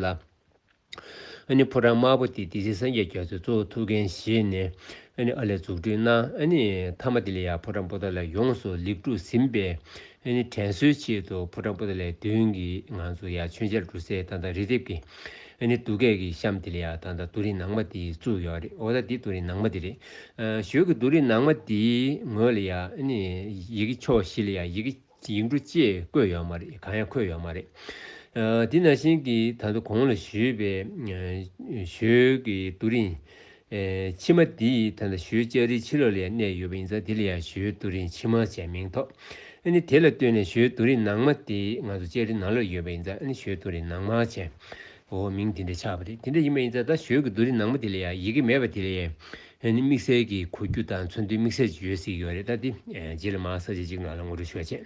ལ། ཕོ་བྲང་དམར་པོ་འདི་འདི་སྲིད་སངས་རྒྱས་རྒྱ་མཚོས་གཙོ་བོ་ཐུགས་འགན་བཞེས་ནས་ཨ་ལས་འཛུགས་སྐྲུན་གནང། མཐའ་མ་དེ་ལས་ཡང་ཕོ་བྲང་པོ་ཏཱ་ལའི་ཡོངས་སུ་ལེགས་གྲུབ་ཟིན་པས། དྲན་གསོའི་ཆེད་དུ་ཕོ་བྲང་པོ་ཏཱ་ལའི་མདུན་གྱི་ངང་དུ་ཡང་མཆོད་མཇལ་གྲུ་གསེར་དང་དང་རི་ལྡེབས་ཀྱི། ཨེ་ནི་ཏུ་སྐད་ཀྱི་གཤམ་དེ་ལ་ཡང་ད་ལྟ་ཏུ་རིན་ནང་མ་དེའི་གཙུག་ཡོད་རེད་འོ་ད་འདི་ཏུ་རིན་ནང་མ་དེ་རེད། ཞོལ་གྱི་ཏུ་རིན་ནང་མ་དེའི་ངོས་ལ་ཡང་ཨེ་ནི་ཡི་གེ་ཕྱོགས་བཞི་ལ་ཡང་ཡི་གེ་ཡིག་འབྲུ་བཅས་བཀོད་ཡོད་མ་རེད་གང་ཡང་འཁོད་ཡོད་མ་རེད། འདི་ན་ཤིང་གིས་ད་ལྟ་གོང་ལ་ཞུས་པའི་ཞོལ་གྱི་ཏུ་རིན། ཕྱི་མ་འདི་ཡིས་ད་ལྟ་ཞོའི་ལྕགས་རིའི་ཕྱི་ལོགས་ལ་ཡང་གནས་ཡོད་པ་ཡིན་ཙང་དེ་ལ་ཡང་ཞོའི་རྡོ་རིང་ཕྱི་མ་ཅེས་མིང་ཐོགས། ནི་དེ་ལ་ལྟོས་ནས་ཞོའི་རྡོ་རིང་ནང་མ་དེ་ང་ཚོ་ལྕགས་རིའི་ནང་ལོགས་ཡོད་པ་ཡིན་ཙང་ཞོའི་རྡོ་རིང་ནང་མ་ཅེས་འོ་མིང་དེ་འདྲ་ཆགས་པ་རེད་དེ་འདྲ་ཡིན་པ་ཡིན་ཙང་ད་ཞོའི་གི་རྡོ་རིང་ནང་མ་དེ་ལ་ཡང་ཡི་གེ་མེད་པ་དེ་ལ་ཡང་ནི་དམིགས་བསལ་གྱི་གོ་རྒྱུ་དང་མཚོན་དོན་དམིགས་བསལ་གྱི་ཡོད་སྲིད་ཀྱི་བ་རེད་ད་དེ་རྗེས་ལ་མ་ས་བྱེད་ཅིག་ང་ལ་ངོ་སྤྲོད་ཞུ་བ་བྱེད།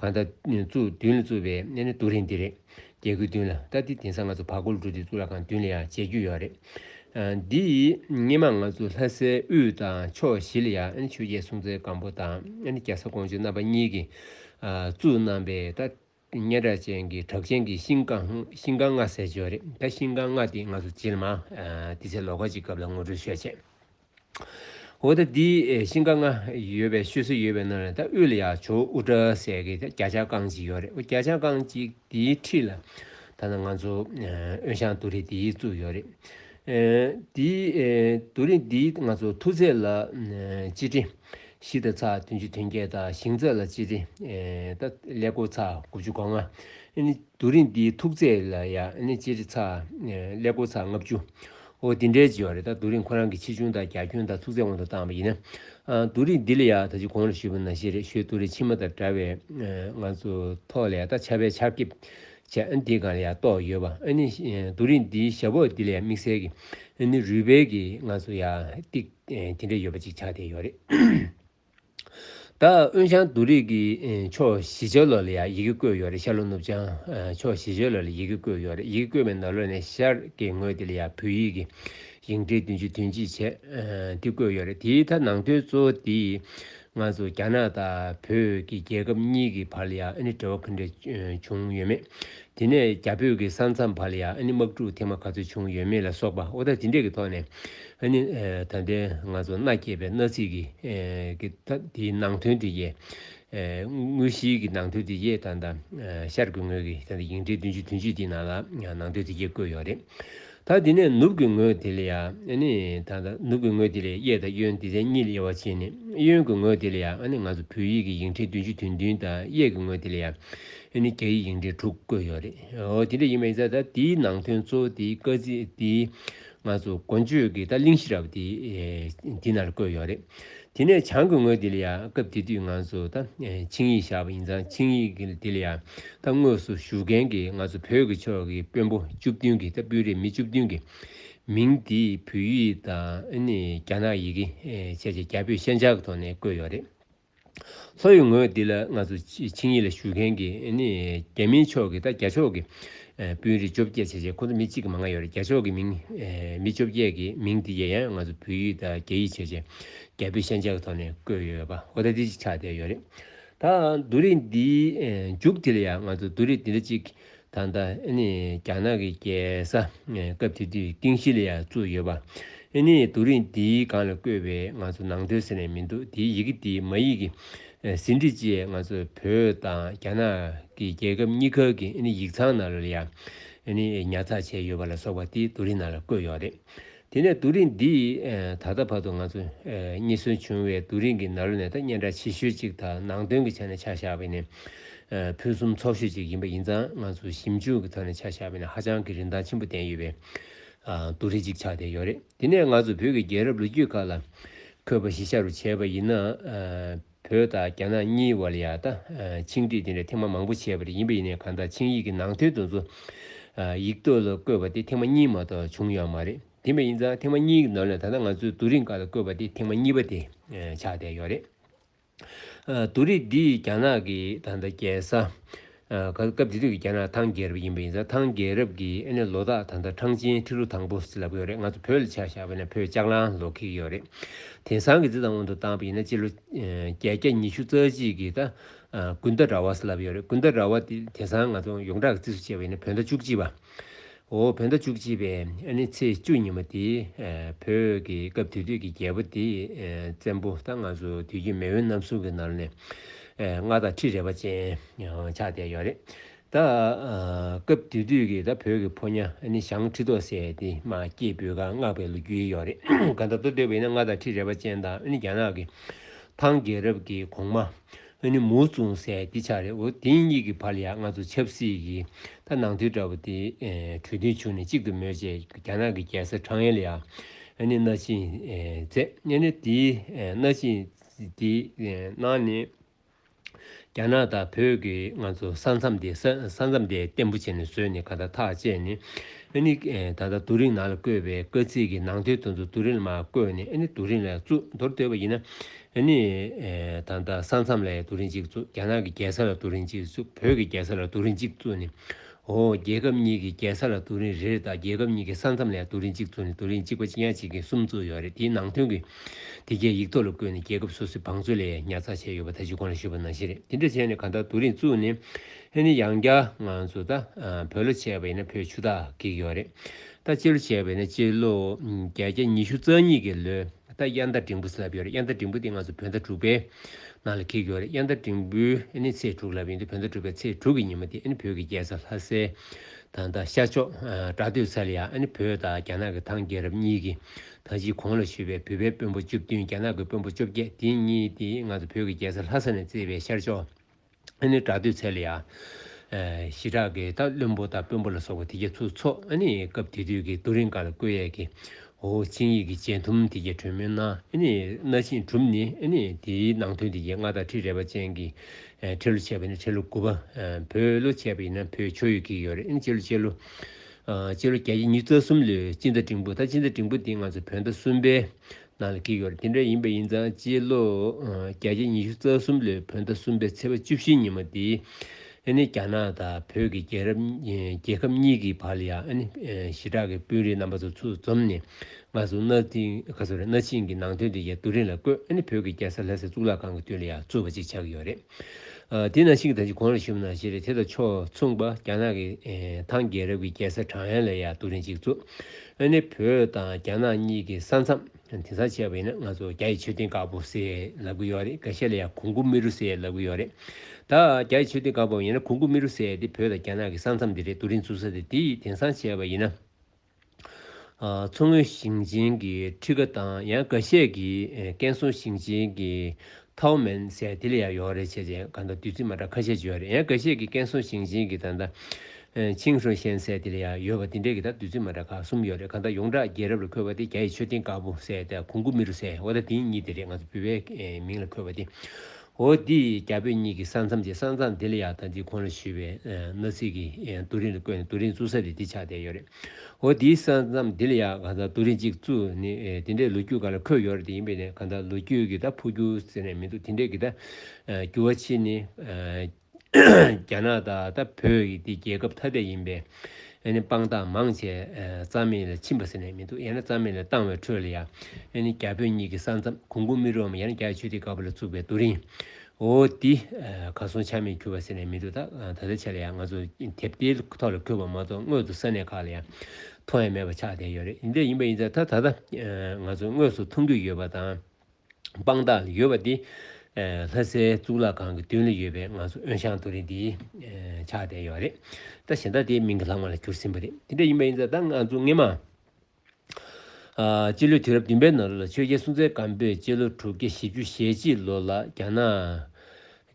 གང་ལྟར། བཙུགས་བདུན་ལ་བཙུགས་པའི་གནས་ནི་རྡོ་རིང་འདི་རེད། རྒྱལ་ཁུལ་བདུན་ལ་ལྟ་སྟེ་དེང་སང་ང་ཚོ་བར་སྐོར་འགྲོ་དུས་གཙུག་ལག་ཁང་བདུན་ལས་ཡང་མཇལ་རྒྱུ་ཡོད་རེད། འདི་ཡིས་སྙེ་མ་ང་ཚོ་ལྷ་སའི་དབུས་དང་ཕྱོགས་བཞི་ལ་ཡང་ཆོས་རྒྱལ་སྲོང་བཙན་སྒམ་པོ་དང་རྒྱལ་ས་ཀོང་ཇོ་རྣམ་པ་གཉིས་ཀྱིས་བཙུགས་གནང་པའི་ད་སྙན་གྲགས་ཅན་གྱི་གྲགས་ཅན་གྱི་ཤིང་སྒང་ཤིང་སྒང་ལྔ་ཟེར་བྱོས་རེད་ད་ཤིང་སྒང་ལྔ་དེ་ང་ཚོ་བྱིས་ལ་མ་དེ་ཚེ་ལོ་ཀ་གཅིག་སྐབས་ལ་ངོ་སྤྲོད་ཤོས་བྱེད། འོ་ད་འདི་ཤིང་ཀ་ལྔ་ཡོད་པའི་ཤོད་སྲོལ་ཡོད་པའི་ནང་ལས་ད་དབུས་ལ་ཡ་ཇོ་དབུ་སྐྲ་ཟེར་གི་རྒྱ་ཆ་རྐང་གཅིག་ཡོད་རེད་འོ་རྒྱ་ཆ་རྐང་གཅིག་འདིའི་འཁྲིས་ལ་ད་ང་ཚོ་དབོན་ཞང་དུ་རི་འདི་བཙུགས་ཡོད་རེད། འདི་དུ་རི་འདི་ང་ཚོ་མཐུ་རྩེ་ལ་གཅིག་དྲི། བཞི་ད་ཚག་བདུན་ཅུ་དོན་བརྒྱད་ད་ཤིང་རྩེ་ལ་གཅིག་དྲི། ད་ཀླད་ཀོར་ཚག་དགུ་བཅུ་གོ་ལྔ། དུ་རི་འདི་ཐུགས་རྩེ་ལ་ཡ་གཅིག་དྲི་ཚག་ཀླད་ཀོར་ཚག་ལྔ་བཅུ། ཨོ་དེ་འདྲའི་བྱས་བ་རེད་ད་རྡོ་རིང་ཁོ་རང་གི་ཆེ་ཆུང་དང་རྒྱ་ཁྱོན་དང་ཚུགས་ཚད་དབང་དུ་བཏང་བ་ཡིན་ན། རྡོ་རིང་འདི་ལ་ཡག་ད་ཅི་གོང་ལ་ཞུས་པ་ན་ཤེས་རེད་ཞོའི་རྡོ་རིང་ཕྱི་མ་དང་འདྲ་བའི་ང་ཚོ་ཐོག་ལ་ཡག་ད་ཆར་པའི་ཆར་ཁེབས་བྱས་ཨ་ནི་འདི་གང་ལ་ཡག་རྟོགས་ཡོད་པ་ཨ་ནི་རྡོ་རིང་འདིའི་ཞབས་འོག་འདི་ལ་ཡག་དམིགས་བསལ་གྱི་ཨ་ནི་རུས་སྦལ་གྱི་ང་ཚོ་ཡག་ཏིག་དེ་འདྲས་ཡོད་པ་ཅིག་ཆགས་བསྡད་ཡོད་རེད། ད་ཨོན་ཆང་དུ་རིགས་ཀྱི་ཕྱོགས་བཞི་ཆོས་ལོ་ལ་ཡང་ཡི་གེ་བཀོད་ཡོད་རེད་ཤར་ལྷོ་ནུབ་བྱང་ཕྱོགས་བཞི་ཆོས་ལོ་ལ་ཡི་གེ་བཀོད་ཡོད་རེད་ཡི་གེ་བཀོད་པའི་ནང་ལོ་ནས་ཤར་གྱི་ངོས་དེ་ལ་ཡང་བོད་ཡིག་གི་ཞིང་བྲིས་བདུན་ཅུ་དོན་གཅིག་བྱས་དེ་བཀོད་ཡོད་རེད་དེའི་མཐའ་ནང་དོན་གཙོ་བོ་དེ་ང་ཚོ་རྒྱ་ནག་དང་བོད་ཀྱི་རྒྱལ་ཁབ་གཉིས་ཀྱི་བར་ལ་ཡང་ཨ་ནི་འབྲེལ་བ་གང་འདྲ་བྱུང་ཡོད་མེད་དེ་ནས་རྒྱ་བོད་ཀྱི་ས་མཚམས་བར་ལ་ཡང་ཨ་ནི་དམག་འཁྲུག་ཐེངས་མ་ག་ཚོད་བྱུང་ཡོད་མེད་ལ་སོགས་པ་ཨོ་ད་ཇི་འདྲས་ཀྱི་ཐོག་ནས་ཨ་ནི་ད་ལྟའི་ང་ཚོ་མནའ་སྐྱེལ་པའི་མནའ་ཚིག་གི་གི་དེའི་ནང་དོན་དེ་ཡས་དངོས་གཞིའི་གི་ནང་དོན་དེ་ཡས་ད་ད་ཤར་གྱི་ངོས་ཀྱི་ད་ད་ཡིག་འབྲེལ་བདུན་ཅུ་དོན་གཅིག་དེའི་ནང་ལ་ནང་དོན་དེ་ཡས་བཀོད་ཡོད་རེད། ད་དེ་ནས་ནུབ་ཀྱི་ངོས་དེ་ལ་ཡང་ནི། ད་ད་ནུབ་ཀྱི་ངོས་དེ་ལས་གཡས་དང་གཡོན་དེ་ཚན་གཉིས་ལ་དབྱེ་བ་ཕྱེས་ནས་གཡོན་གྱི་ངོས་དེ་ལ་ཡང་ནི་ང་ཚོ་བོད་ཡིག་གི་ཡིག་འབྲེལ་བདུན་ཅུ་དོན་བདུན་དང་གཡས་ཀྱི་ངོས་དེ་ལ་ཡང་ནི་རྒྱ་ཡིག་ཡིག་འབྲེལ་དྲུག་བཀོད་ཡོད་རེད། འོ་དེ་འདྲ་ཡིན་པ་ཡིན་ཚ་ད་དེའི་ནང་དོན་གཙོ་བོ་དེའི་བཀའ་གཙིགས་དེའི་ང་ཚོ་མགོ་མཇུག་གི་ད་གླིང་ཤེས་རབ་དེ་འདི་ན་བཀོད་ཡོད་རེད། དེ་ནས་བྱང་གི་ངོས་དེ་ལ་ཡང་སྐབས་དེ་དུས་ང་ཚོ་ད་ཆིངས་ཡིག་བཞག་པ་ཡིན་ཙང་ཆིངས་ཡིག་དེ་ལ་ཡང་ད་དངོས་སུ་བཞུགས་མཁན་གྱི་ང་ཚོ་བོད་ཀྱི་ཕྱོགས་ཀྱི་དཔོན་པོ་བཅུ་བདུན་གྱི་ད་སྤུས་རེ་མི་བཅུ་བདུན་གྱི་མིང་དེ་བོད་ཡིག་དང་རྒྱ་ནག་ཡི་གེ་ཆེ་ཆེ་རྒྱ་བོད་ཤན་སྦྱར་གྱི་ཐོག་ནས་བཀོད་ཡོད་རེད། ལྷོ་ཡི་ངོས་འདི་ལ་ང་ཚོ་ཆིངས་ཡིག་ལ་ཞུགས་མཁན་གྱི་རྒྱ་མིའི་ཕྱོགས་ཀྱི་དང་རྒྱ་ཕྱོགས་ཀྱི་དཔོན་རིགས་བཅོ་བརྒྱད་ཆེ་ཆེ་ཁོ་ཚོ་མི་གཅིག་གི་མ་ལྔ་ཡོད་རེད་རྒྱ་ཕྱོགས་ཀྱི་མི་མི་བཅོ་བརྒྱད་ཀྱི་མིང་དེ་ཡང་ཡང་ང་ཚོ་བོད་ཡིག་དང་རྒྱ་ཡིག་ཆེ་ཆེ་རྒྱ་བོད་ཤན་སྦྱར་གྱི་ཐོག་ནས་བཀོད་ཡོད་པ་ཧོ་ཐ་ཐི་ཅིག་ཆགས་བསྡད་ཡོད་རེད་ད་རྡོ་རིང་འདིའི་མཇུག་དེ་ལ་ཡང་ང་ཚོ་རྡོ་རིང་འདི་འདྲ་ཅིག་ད་ལྟ་རྒྱ་ནག་གི་རྒྱལ་ས་སྐབས་དེ་དུས་ཏིང་ཤི་ལི་ཡར་བཙུགས་ཡོད་པ། ཨིནྚ་རྡོ་རིང་འདིའི་སྒང་ལ་བཀོད་པའི་ང་ཚོ་ནང་དོལ་ཟེར་ནས་མི་འདུག་དེའི་ཡི་གེ་དེའི་མ་ཡིག་གི་ཟིན་བྲིས་བཅས་ང་ཚོ་བོད་དང་རྒྱ་ནག་གི་རྒྱལ་ཁབ་གཉིས་ཁག་གི་ཨིནྚ་ཡིག་ཚང་ནང་ལ་ཡང་ཨིནྚ་ཉར་ཚགས་བྱས་ཡོད་པ་ལ་སོགས་པ་དེ་རྡོ་རིང་ནང་ལ་བཀོད་ཡོད་རེད། དེ་ནས་རྡོ་རིང་འདི་ད་ལྟ་བར་དུ་ང་ཚོ་རྙེད་སོན་བྱུང་བའི་རྡོ་རིང་གི་ནར་ལོ་ནས་ཐ་སྙད་འདྲ་ཆེ་ཤོས་གཅིག་དང་ནང་དོན་གྱི་ཆ་ནས་ཆ་བཞག་པས་ནི་ཕུན་སུམ་ཚོགས་ཤོས་གཅིག་ཡིན་པ་ཡིན་ཙང་ང་ཚོ་ཞིབ་འཇུག་གི་ཐོག་ནས་ཆ་བཞག་པས་ནི་ཧ་ཅང་གི་རིན་ཐང་ཆེན་པོ་ལྡན་ཡོད་པའི་རྡོ་རིང་གཅིག་ཆགས་བསྡད་ཡོད་རེད་དེ་ནས་ང་ཚོ་བོད་ཀྱི་རྒྱལ་རབས་ལོ་རྒྱུས་ཁག་ལ་འཁོད་པ་གཞི་ཆ་རུ་བྱས་པ་ཡིན་ན། བོད་དང་རྒྱ་ནག་གཉིས་བར་ཡ་ད་ཆིངས་བསྒྲིགས་དེ་འདྲ་ཐེངས་མ་མང་པོ་བྱས་པ་རེད་ཡིན་པ་ཡིན་ནའི་གང་ལྟར་ཆིངས་ཡིག་གི་ནང་དོན་དེ་ཚོ་ཡིག་ཐོག་ལ་བཀོད་པ་དེ་ཐེངས་མ་གཉིས་མ་གཏོགས་བྱུང་ཡོད་མ་རེད་དེ་མ་ཡིན་ཙང་ཐེངས་མ་གཉིས་ཀྱི་ནང་ལས་ད་ལྟ་ང་ཚོས་བསྡུ་རིང་ཀ་ལ་བཀོད་པ་དེ་ཐེངས་མ་གཉིས་པ་དེ་ཆགས་བསྡད་ཡོད་རེད། བསྡུ་རིགས་འདིས་རྒྱ་ནག་གི་ད་ལྟ་རྒྱལ་ས། ག་ལ་སྐབས་དེ་དུས་ཀྱི་རྒྱ་ནག་ཐང་རྒྱལ་རབས་ཡིན་པ་ཡིན་ཙང་ཐང་རྒྱལ་རབས་ཀྱི་ཨེ་ནས་ལོ་དག་ད་ལྟ་ཁྲང་ཅན་ཁྲི་ལོ་དང་པོ་ཟེར་ལབ་ཀྱི་ཡོད་རེད་ང་ཚོ་བོད་ལ་ཆ་བཞག་པ་ཡིན་ན་བོད་ལྕགས་ལང་ལོ་ཁེགས་ཀྱི་ཡོད་རེད། དེང་སང་གི་འདི་དང་དབང་དུ་བཏང་པ་ཡིན་ན་སྤྱི་ལོ་བརྒྱད་བརྒྱ་ཉི་ཤུ་རྩ་གཅིག་གི་ད་དགུན་ཟླ་ར་བ་ཟེར་ལབ་ཀྱི་ཡོད་རེད་དགུན་ཟླ་ར་བ་དེ་དེང་སང་ང་ཚོ་ཡོངས་གྲགས་ཀྱི་རྩིས་སུ་བྱས་པ་ཡིན་ན་བོད་ཟླ་བཅུ་གཅིག་པ། འོ་བོད་ཟླ་བཅུ་གཅིག་པའི་ནི་ཚེས་བཅུ་ཉིན་མོ་དེ་བོད་ཀྱི་སྐབས་དེ་དུས་ཀྱི་རྒྱལ་པོ་དེས་བཙན་པོ་དང་ང་ཚོ་དུས་ཀྱི་མེས་དབོན་རྣམ་གསུམ་གྱི་ནང་ནས་ལྔ་དང་ཁྲི་རེ་བ་ཅན་ཆགས་བསྡད་ཡོད་རེད་ད། སྐབས་དེ་དུས་ཀྱི་ད་བོད་ཀྱི་ཕོ་ཉ་ནི་ཞང་ཁྲི་ཐོག་སེ་དེ་མ་སྐྱེས་བུ་ག་མངགས་པའི་ལོ་རྒྱུས་ཡོད་རེད་ག་ད་ལྟ་སྡོད་པའི་ནི་ལྔ་དང་ཁྲི་རེ་བ་ཅན་དང་ནི་རྒྱ་ནག་གི་ཐང་རྒྱལ་རབས་ཀྱི་གོང་མ་ཨ་ནི་མོ་བཙོང་སའི་སྡེ་ཆགས་རེད་འོ་དེ་གཉིས་ཀྱི་བར་ལ་ཡང་ང་ཚོ་ཆབ་སྲིད་ཀྱི་ཐ་ནང་དུས་འདྲ་བོ་དེ་གྲོས་མཐུན་བྱུང་ནས་གཅིག་ཏུ་མོལ་བྱས་རྒྱ་ནག་གི་རྒྱལ་སར་ཁྲང་ཡན་ལི་ཨ་ནི་སྣ་ཆིན་མཛད་ཨ་ནི་དེ་སྣ་ཆིན་དེ་ནང་ནས་རྒྱ་ནག་དང་བོད་ཀྱི་ང་ཚོ་ས་མཚམས་དེ་ས་མཚམས་དེ་བརྟན་པོ་བྱས་ནས་བཟོས་ནས་ག་ད་ཐག་བཅད་ནས་ཨ་ནི་ད་ལྟ་རྡོ་རིང་ནང་ལ་བརྐོས་པའི་དཀའ་ཚིག་གི་ནང་དོན་དུ་རྡོ་རིང་ལ་མ་བརྐོས་ནས་ཨ་ནི་རྡོ་རིང་ལ་གཙུག་རྡོར་སྡོད་པ་ཡིན་ན། ཨ་ནི། ད་ལྟ་ས་མཚམས་ལ་ཡང་རྡོ་རིང་གཅིག་བཙུགས་རྒྱ་ནག་གི་རྒྱལ་ས་ལ་རྡོ་རིང་གཅིག་བཙུགས་བོད་ཀྱི་རྒྱལ་ས་ལ་རྡོ་རིང་གཅིག་བཙུགས་ནས། ཨོ། རྒྱལ་ཁབ་གཉིས་ཀྱི་རྒྱལ་ས་ལ་རྡོ་རིང་རེ་རེ་དང་རྒྱལ་ཁབ་གཉིས་ཀྱི་ས་མཚམས་ལ་ཡང་རྡོ་རིང་གཅིག་བཙུགས་ནས་རྡོ་རིང་གཅིག་པ་གཅིག་ཡང་གཅིག་གིས་གསུམ་བཙུགས་ཡོད་རེད་དེའི་ནང་དོན་གྱི། དེ་རྒྱའི་ཡིག་ཐོག་ལ་བཀོད་ནས་རྒྱལ་ཁབ་སོ་སོའི་བང་མཛོད་ལས་ཉར་ཚགས་བྱས་ཡོད་པ་ད་གཞི་ཁོང་ལ་ཞུས་པ་ནང་བཞིན་རེད་དེ་འདྲ་བྱས་ནས་གང་ལྟར་རྡོ་རིང་བཙུགས་ནས། ཨ་ནི་ཡང་བསྐྱར་ང་ཚོ་ད་བོད་ལོ་བྱས་པ་ཡིན་ན་བོད་ཆུ་ད་བགེགས་ཡོད་རེད་ད་སྤྱི་ལོ་བྱས་པ་ཡིན་ན་སྤྱི་ལོ། བརྒྱད་བརྒྱ་ཉི་ཤུ་རྩ་གཉིས་ཀྱི་ལོའི། ད་ལྟ་དབྱར་ཟླ་འབྲིང་པོ་བསླབ་ཡོད་རེད་དབྱར་ཟླ་འབྲིང་པོ་དེ་ང་ཚོ་བོད་ཟླ་དྲུག་པའི་ནང་ལ་འཁེལ་གྱི་ཡོད་རེད་དབྱར་ཟླ་འབྲིང་པོའི་ནི་ཚེས་དྲུག་ལབ་ཡིན་དུས་བོད་ཟླ་དྲུག་པའི་ཚེས་དྲུག་གི་ཉིན་མོ་དེ་ནི་བོད་ཀྱི་རྒྱལ་ས་ལྷ་སའི་ཐང་རྟ་ཤར་ཕྱོགས་སྦྲ་སྟོད་ས་ལ་ཡང་ནི་བོད་དང་རྒྱ་ནག་གི་ཐང་རྒྱལ་རབས་གཉིས་ཀྱི་ཐང་སྤྱིའི་གོང་ལ་བཞུགས་པའི་བོད་པའི་དཔོན་པོ་བཅུ་བདུན་རྒྱ་ནག་གི་དཔོན་པོ་བཅོ་བརྒྱད་དེ་གཉིས་དེ་ང་ཚོ་བོད་ཀྱི་རྒྱལ་ས་ལྷ་ས་ནས་བརྩེ་བའི་ཤར་ཕྱོགས། ཨ་ནི་དྲག་འདུས་ཚལ་ཡ། ཞི་དྲག་གི་རྟ་བློན་པོ་རྟ་དཔོན་པོ་ལ་སོགས་པ་དེ་རྒྱ་མཚོའི་ཚོགས་ཨ་ནི་སྐབས་དེ་དུས་ཀྱི་རྡོ་རིང་དཀར་ལ་བཀོད་ཡས་ཀྱི། འོ་ཆིངས་ཡིག་གི་བཅད་ཐུམ་དེ་རྒྱ་གྲོན་མོའི་སྣ་ཨ་ནི་སྣ་ཆིངས་གྲུབ་ནི་ཨ་ནི་དེའི་ནང་ཐུན་དེ་རྒྱ་སྔགས་དང་ཁྲི་རལ་པ་ཅན་གྱི། ཁྲི་ལོ་ཆད་པ་ནི་ཁྲི་ལོ་དགུ་པ། བོད་ལོ་ཆད་པ་ཡིན་ན་བོད་ཆོས་ཡོད་ཀྱི་ཡོད་རེད་ཨ་ནི་སྤྱི་ལོ་སྤྱི་ལོ། སྤྱི་ལོ་བརྒྱད་ཀྱི་ཉིས་རྩ་གསུམ་ལོའི་སྤྱི་ཟླ་འབྲིང་པོ་ད་སྤྱི་ཟླ་འབྲིང་པོ་འདི་ང་ཚོ་བོད་ཟླ་གསུམ་པའི་ནང་ལ་འཁེལ་ཡོད་རེད་དེ་འདྲ་ཡིན་པ་ཡིན་ཙང་སྤྱི་ལོ་བརྒྱ་ཆ་ཉི་ཤུ་རྩ་གསུམ་ལོའི་བོད་ཟླ་གསུམ་པའི་ཚེས་པ་བཅུ་བཞི་ཉིན་མོ་འདི་ཨ་ནི་རྒྱ་ནག་དང་བོད་ཀྱི་རྒྱལ་རབས་རྒྱལ་ཁབ་གཉིས་ཀྱི་བར་ལ་ཡང་ཨ་ནི་ཞི་དྲག་གི་དཔོན་རིགས་རྣམ་པ་ཚོ་ཚུར་འཛོམས་ནས་ང་ཚོ་གནའ་གནའ་ཆེན་གྱི་ནང་དོན་དེ་ཡང་རྡོ་རིང་ལ་བརྐོས་ཨ་ནི་བོད་ཀྱི་རྒྱལ་ས་ལྷ་སའི་གཙུག་ལག་ཁང་གི་མདུན་ལ་ཡང་རྩོད་པ་ཅིག་ཆགས་ཀྱི་ཡོད་རེད། དེས་ན་གཅིག་དང་གཅིག་གང་ལ་ཞུམ་ན་ཞེས་པའི་དེ་དང་ཕྱོགས་མཚུངས་པ་རྒྱ་ནག་གི་ཐང་རྒྱལ་རབས་ཀྱི་རྒྱལ་ས་ཁྲང་ཡན་ལ་ཡང་རྡོ་རིང་གཅིག་བཙུགས། ཨ་ནི་བོད་དང་རྒྱ་ནག་གཉིས་ཀྱི་ས་མཚམས་དེང་སང་བྱས་པ་ཡིན་ན་ང་ཚོ་རྒྱ་ཡི་མཆོད་རྟེན་དཀར་པོ་ཟེར་ལབ་ཀྱི་ཡོད་རེད་ག་ཤེད་ལ་ཡང་གུང་གུ་མི་རུ་ཟེར་ལབ་ཀྱི་ཡོད་རེད་ད། རྒྱ་ཡི་མཆོད་རྟེན་དཀར་པོ་ཡིན་ན་གུང་གུ་མི་རུ་ཟེར་དེ་བོད་དང་རྒྱ་ནག་གི་ས་མཚམས་དེ་རེད་རྡོ་རིང་བཙུགས་ས་དེ་དེ་ཡིས་དེང་སང་བྱས་པ་ཡིན་ན། མཚོ་སྔོན་ཞིང་ཆེན་གྱི་ཁྲི་ཀ་དང་ཡང་འགའ་ཤས་ཀྱིས་ཀན་སུའུ་ཞིང་ཆེན་གྱི་ཐའོ་མན་སའེ་ཐི་ལི་ཡར་ཡོང་རེ་བྱས་རྗེས་ག་ཟླ་དུས་ཚིགས་མ་འདྲ་ཁ་ཤས་བརྗོད་རེད་ཡང་འགའ་ཤས་ཀྱིས་ཀན་སུའུ་ཞིང་ཆེན་གྱི་ད་ཟླ་ཆིང་ཧྲོ་ཤན་སའེ་ཐི་ལི་ཡར་ཡོད་པ་འདི་འདྲའི་གི་ད་དུས་ཚིགས་མ་འདྲ་ཁག་གསུམ་ཡོད་རེད་ག་ཟླ་ཡོངས་གྲགས་རྒྱལ་རབས་ལ་འཁོད་པ་དེ་རྒྱ་ཡི་མཆོད་རྟེན་དཀར་པོ་སའེ་ཐེ་གུང་གུ་མི་རུ་སའེ་ཧོ་ད་དེ་གཉིས་དེ་རེད་ང་ཚོ་བོད་པའི་མིང་ལ་འཁོད་པ་དེ་འོ་འདི་ཡི་རྒྱ་བོད་གཉིས་ཀྱི་ས་མཚམས་ཀྱི་ས་མཚམས་དེ་ལ་ཡག་ཐང་ཅིག་ཁོང་ལ་ཞུས་པས་མནའ་ཚིག་གི་རྡོ་རིང་ལ་བཀོད་ནས་རྡོ་རིང་བཙུགས་ས་ལས་འདི་ཆགས་བསྡད་ཡོད་རེད། འོ་འདིའི་ས་མཚམས་དེ་ལ་ཡག་གང་ལྟར་རྡོ་རིང་ཅིག་བཙུགས་ནི་དེ་འདྲའི་ལོ་རྒྱུས་ག་ལ་འཁོད་ཡོད་རེད་དེ་ཡིན་པས་ནས་གང་ལྟར་ལོ་རྒྱུས་ཀྱི་ད་འཕོ་རྒྱུ་ཟེར་ནས་མི་འདུག་དེ་འདྲའི་གི་ད་འགྱུར་བ་ཕྱིན་ནི། རྒྱ་ནག་ད་ལྟ་བོད་ཀྱི་འདི་རྒྱལ་ཁབ་ཐ་དད་ཡིན་པས་ཨེ་ནི་དཔང་རྟགས་མང་ཆེ་རྩ་མེད་ལ་ཕྱིན་པ་ཟེར་ནས་མི་འདུག་ཡང་ན་རྩ་མེད་ལ་བཏང་བའི་ཁྲོད་ལ་ཡང་ཨེ་ནི་རྒྱ་བོད་གཉིས་ཀྱི་ས་མཚམས་གུང་གུང་མི་རུའམ་ཡང་ན་རྒྱ་ཆོས་དེ་ག་བ་ལ་བཙུགས་པའི་རྡོ་རིང་འོ་འདི་ག་སོང་ཆ་མེད་གྱུར་བ་ཟེར་ནས་མི་འདུག་ད་ད་ལྟའི་ཆ་ལ་ཡང་ང་ཚོ་དེབ་དེའི་ཐོག་ལ་འཁོད་པ་མ་གཏོགས་དངོས་སུ་ས་གནས་ཁག་ལ་ཡང་མཐོང་ཡ་མེད་པ་ཆགས་བསྡད་ཡོད་རེད་འདི་འདྲ་ཡིན་པ་ཡིན་ཚ་ད་ད་ལྟ་ང་ཚོ་དངོས་སུ་མཐོང་རྒྱུ་ཡོད་པ་དང། དཔང་རྟགས་ལ་ཡོད་པ་འདི། ལྷ་སའི་གཙུག་ལག་ཁང་གི་མདུན་ལ་ཡོད་པའི་ང་ཚོ་དབོན་ཞང་རྡོ་རིང་འདི་ཕྱག་བསྟན་ཡོད་རེད་ད་གཞན་དག་དེའི་མིང་གི་ལྷག་མ་ལ་གྱུར་ཟིན་པ་རེད་དེ་འདྲ་ཡིན་པ་ཡིན་ཙང་ད་ང་ཚོ་སྔེ་མ་སྤྱི་ལོའི་དུས་རབས་བདུན་པའི་ནང་ལོ་ལ་ཆོས་རྒྱལ་སྲུང་བཙན་སྒམ་པོས་སྤྱི་ལོ་དྲུག་བརྒྱ་བཞི་བཅུ་ཞེ་གཅིག་ལོ་ལ་རྒྱ་ནག་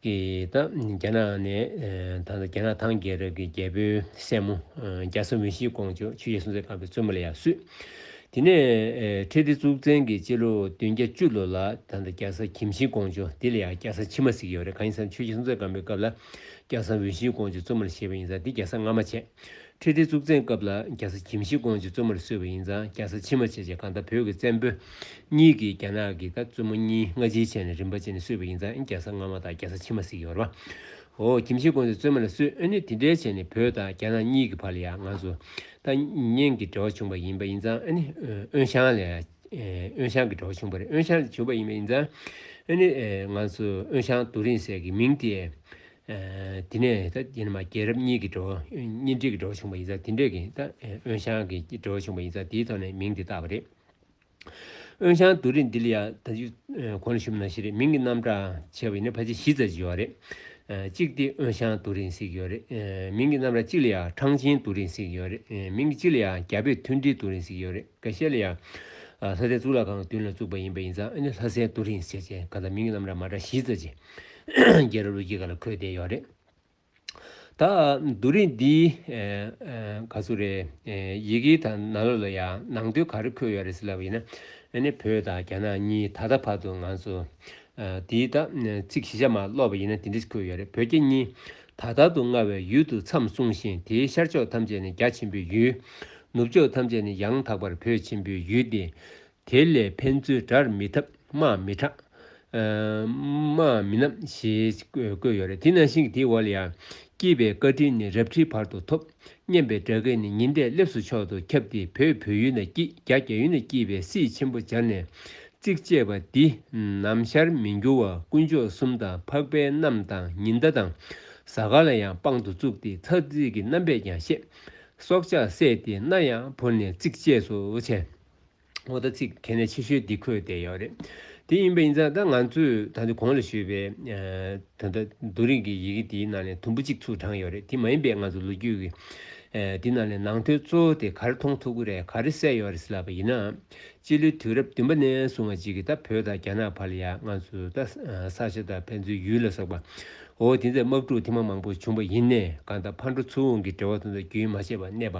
ཀྱི་དང་རྒྱ་ནག་ནས་ད་རྒྱ་ནག་ཐང་རྒྱལ་རབས་ཀྱི་རྒྱལ་པོའི་སྲས་མོ་རྒྱ་བཟའ་མི་ཤིའི་དགོངས་ཆོས་ཆོས་རྗེ་སྲོང་བཙན་སྒམ་པོའི་བཙུན་མོ་ལ་ཡང་བསུས། དེ་ནས་ཁྲི་ལྡེ་གཙུག་བཙན་གྱི་སྤྱི་ལོ་བདུན་བརྒྱ་བཅུ་ལོ་ལ་ད་རྒྱ་བཟའ་གྱིམ་ཤིའི་དགོངས་ཆོས་འདི་ལ་ཡང་རྒྱ་བཟའ་ཕྱི་མ་ཟིག་ཡོད་རེད་གང་ཡིན་ཟེར་ན་ཆོས་རྗེ་སྲོང་བཙན་སྒམ་པོའི་སྐབས་ལ་རྒྱ་བཟའ་འོས་ཤིའི་དགོངས་ཆོས་བཙུན་མོ་ལ་བཞེས་པ་ཡིན་ཟ་འདི་རྒྱ་བཟའ་སྔ་མ་བྱས། ཁྲི་ལྡེ་གཙུག་བཙན་སྐབས་ལ་རྒྱ་ས་ཁྱིམ་གཞི་ཀོང་ཇི་བཙོན་མོར་གསོལ་བ་ཡིན་ཙང་རྒྱ་ས་ཕྱི་མ་བྱས་རྗེས་གང་ལྟར་བོད་ཀྱི་བཙན་པོ་གཉིས་ཀྱིས་རྒྱ་ནག་གི་ད་བཙོན་མོ་གཉིས་སྔ་ཕྱིའི་ཆད་ནས་རིམ་པ་བཅད་ནས་གསོས་པ་ཡིན་ཙང་རྒྱ་ས་སྔ་མ་དང་རྒྱ་ས་ཕྱི་མ་གཟིགས་ཡོར་བའོ་ཁྱིམ་གཞི་ཀོང་ཇི་བཙོན་མོ་ལ་གསོས་ཨེ་ནི་དེ་འདྲའི་ཆད་ནས་བོད་དང་རྒྱ་ནག་གཉིས་ཀྱི་བར་ལ་ཡང་ང་ཚོ་ད་ཉན་གྱི་འབྲེལ་བ་བྱུང་པ་ཡིན་པ་ཡིན་ཙང་ཨེ་ནི་ཨོན་ཤང་ལས་ཨོན་ཤང་གི་འབྲེལ་བ་བྱུང་པ་རེད་ཨོན་ཤང་ལས་བྱུང་པ་ཡིན་པ་ཡིན་ཙང་ཨེ་ནི་ཨོན་ཤང་དུ་རིང་བསྲེལ་གྱི་མིང་དེ་དེ་ནས་ད་ཡེ་ན་མ་རྒྱལ་རབས་གཉིས་ཀྱི་འགྲོ་གཉིས་འབྲེལ་གྱི་འགྲོ་བྱུང་བ་ཡིན་ཙང་དེ་འབྲེལ་གྱི་ད་དབོན་ཞང་གི་འགྲོ་བྱུང་བ་ཡིན་ཙང་དེའི་ཐོག་ནས་མིང་དེ་བཏགས་པ་རེད། དབོན་ཞང་རྡོ་རིང་འདི་ལ་ཡང་ད་ཅི་གོ་ན་ཞུམ་ན་ཞིག་རེད་མིང་གི་རྣམ་གྲངས་ཆེ་བ་ཡིན་ན་ཕལ་ཆེར་བཞི་ཙམ་ཞིག་ཡོད་རེད། གཅིག་སྟེ་དབོན་ཞང་རྡོ་རིང་ཟིག་ཡོད་རེད། མིང་གི་རྣམ་གྲངས་གཅིག་ལ་ཡང་ཁྲང་ཆིན་རྡོ་རིང་ཟིག་ཡོད་རེད། མིང་གི་གཅིག་ལ་ཡང་རྒྱ་བོད་མཐུན་སྒྲིལ་རྡོ་རིང་ཟིག་ཡོད་རེད། འགའ་ཤས་ལ་ཡང་ལྷ་སའི་གཙུག་ལག་ཁང་གི་མདུན་ལ་བཙུགས་པ་ཡིན་པ་ཡིན་ཙང་ཨ་ནི་ལྷ་སའི་རྡོ་རིང་ཟེར་བཅས་གང་ལྟར་མིང་གི་རྣམ་གྲངས་མ་འདྲ་བཞི་ཙམ་ཞིག་རྒྱལ་རབས་ལོ་རྒྱུས་ཁག་ལ་འཁོད་བསྡད་ཡོད་རེད། ད་རྡོ་རིང་འདིའི་ག་ཚོད་རེད་ཡི་གེའི་ཐ་ན་ལོ་ལ་ཡང་ནང་དོན་ག་རེ་འཁོད་ཡོད་རེད་ཟེར་ལབ་ཡིན་ན་ནི་བོད་དང་རྒྱ་ནག་གཉིས་ད་ལྟ་བར་དུ་ང་ཚོ་འདིའི་ད་ཚིག་གཞི་ཆ་མ་ཀློག་པ་ཡིན་ན་དེ་འདྲས་འཁོད་ཡོད་རེད་བོད་རྒྱ་གཉིས་ད་ལྟར་དུ་མངའ་བའི་ཡུལ་དུ་མཚམས་བསྲུངས་ཤིང་དེའི་ཤར་ཕྱོགས་ཐམས་ཅད་ནི་རྒྱ་ཆེན་པོའི་ཡུལ། ནུབ་ཕྱོགས་ཐམས་ཅད་ནི་ཡང་དག་པར་བོད་ཆེན་པོའི་ཡུལ་ཏེ། དེ་ལས་ཕན་ཚུན་དགྲར་མི་འཐབ་དམག་མི་དྲག། དམག་མི་རྣམ་ཞེས་བཀོད་ཡོད་རེད་དེ་ནང་བཞིན་གྱི་དེའི་འོག་ལ་ཡང། སྐྱིད་པའི་བཀའ་དྲིན་ནི་རབ་ཁྲིའི་བར་དུ་ཐོབ། སྙན་པའི་སྒྲ་སྐད་ནི་ཉི་ཟླས་སླེབས་སུ་མཆོག་ཏུ་ཁྱབ་སྟེ་བོད་བོད་ཡུལ་ན་སྐྱིད་རྒྱ་རྒྱ་ཡུལ་ན་སྐྱིད་པའི་སྲིད་ཆེན་པོ་སྦྱར་ནས། ཚིགས་བཅད་པ་འདི་ནམ་ཞར་མི་འགྱུར་བ་དཀོན་མཆོག་གསུམ་དང་འཕགས་པའི་གནམ་དང་ཉི་ཟླ་དང་གཟའ་སྐར་ལ་ཡང་དཔང་དུ་བཙུགས་ཏེ་ཚགས་ཚིག་གི་རྣམ་པས་ཀྱང་བཤད། སྲོག་ཆགས་བསད་དེ་སྣ་ཡང་བོར་ནས་ཚིགས་བཅད་སུ་བྱས། ངོ་ད་ཚིག་གལ་གནད་ཆེ་ཤོས་འདི་འཁོད་བསྡད་ཡོད་རེད། དེ་ཡིན་པ་ཡིན་ཙང་ད་ང་ཚོས་ད་དུང་གོང་ལ་ཞུས་པའི་ད་ལྟ་རྡོ་རིང་གི་ཡི་གེ་དེའི་ནང་ནས་དུམ་བུ་གཅིག་ཚུར་དྲངས་ཡོད་རེད་དེ་མ་ཡིན་པའི་ང་ཚོ་ལོ་རྒྱུས་ཀྱི་དེའི་ནང་ནས་ནང་དོན་གཙོ་བོ་དེ་ག་རེ་མཐོང་ཐུབ་ཀི་རེད་ག་རེ་གསལ་ཡོད་རེད་ཟེར་ལབ་པ་ཡིན་ནའང་སྤྱི་ལོའི་དུས་རབས་བདུན་པ་ནས་བཟུང་བ་ཅིག་གིས་ད་བོད་དང་རྒྱ་ནག་བར་ལ་ཡང་ང་ཚོ་ད་ས་ཆ་དང་ཕན་ཚུན་ཡུལ་ལ་སོགས་པའོ་དེ་ཚོའི་དམག་འཁྲུག་ཐེངས་མང་པོ་བྱུང་བ་ཡིན་ནའི་གང་ད་ཕར་འགྲོ་ཚུར་འོང་གི་འབྲེལ་བ་དང་ད་རྒྱུན་མ་ཆད་པར་གནས་པ་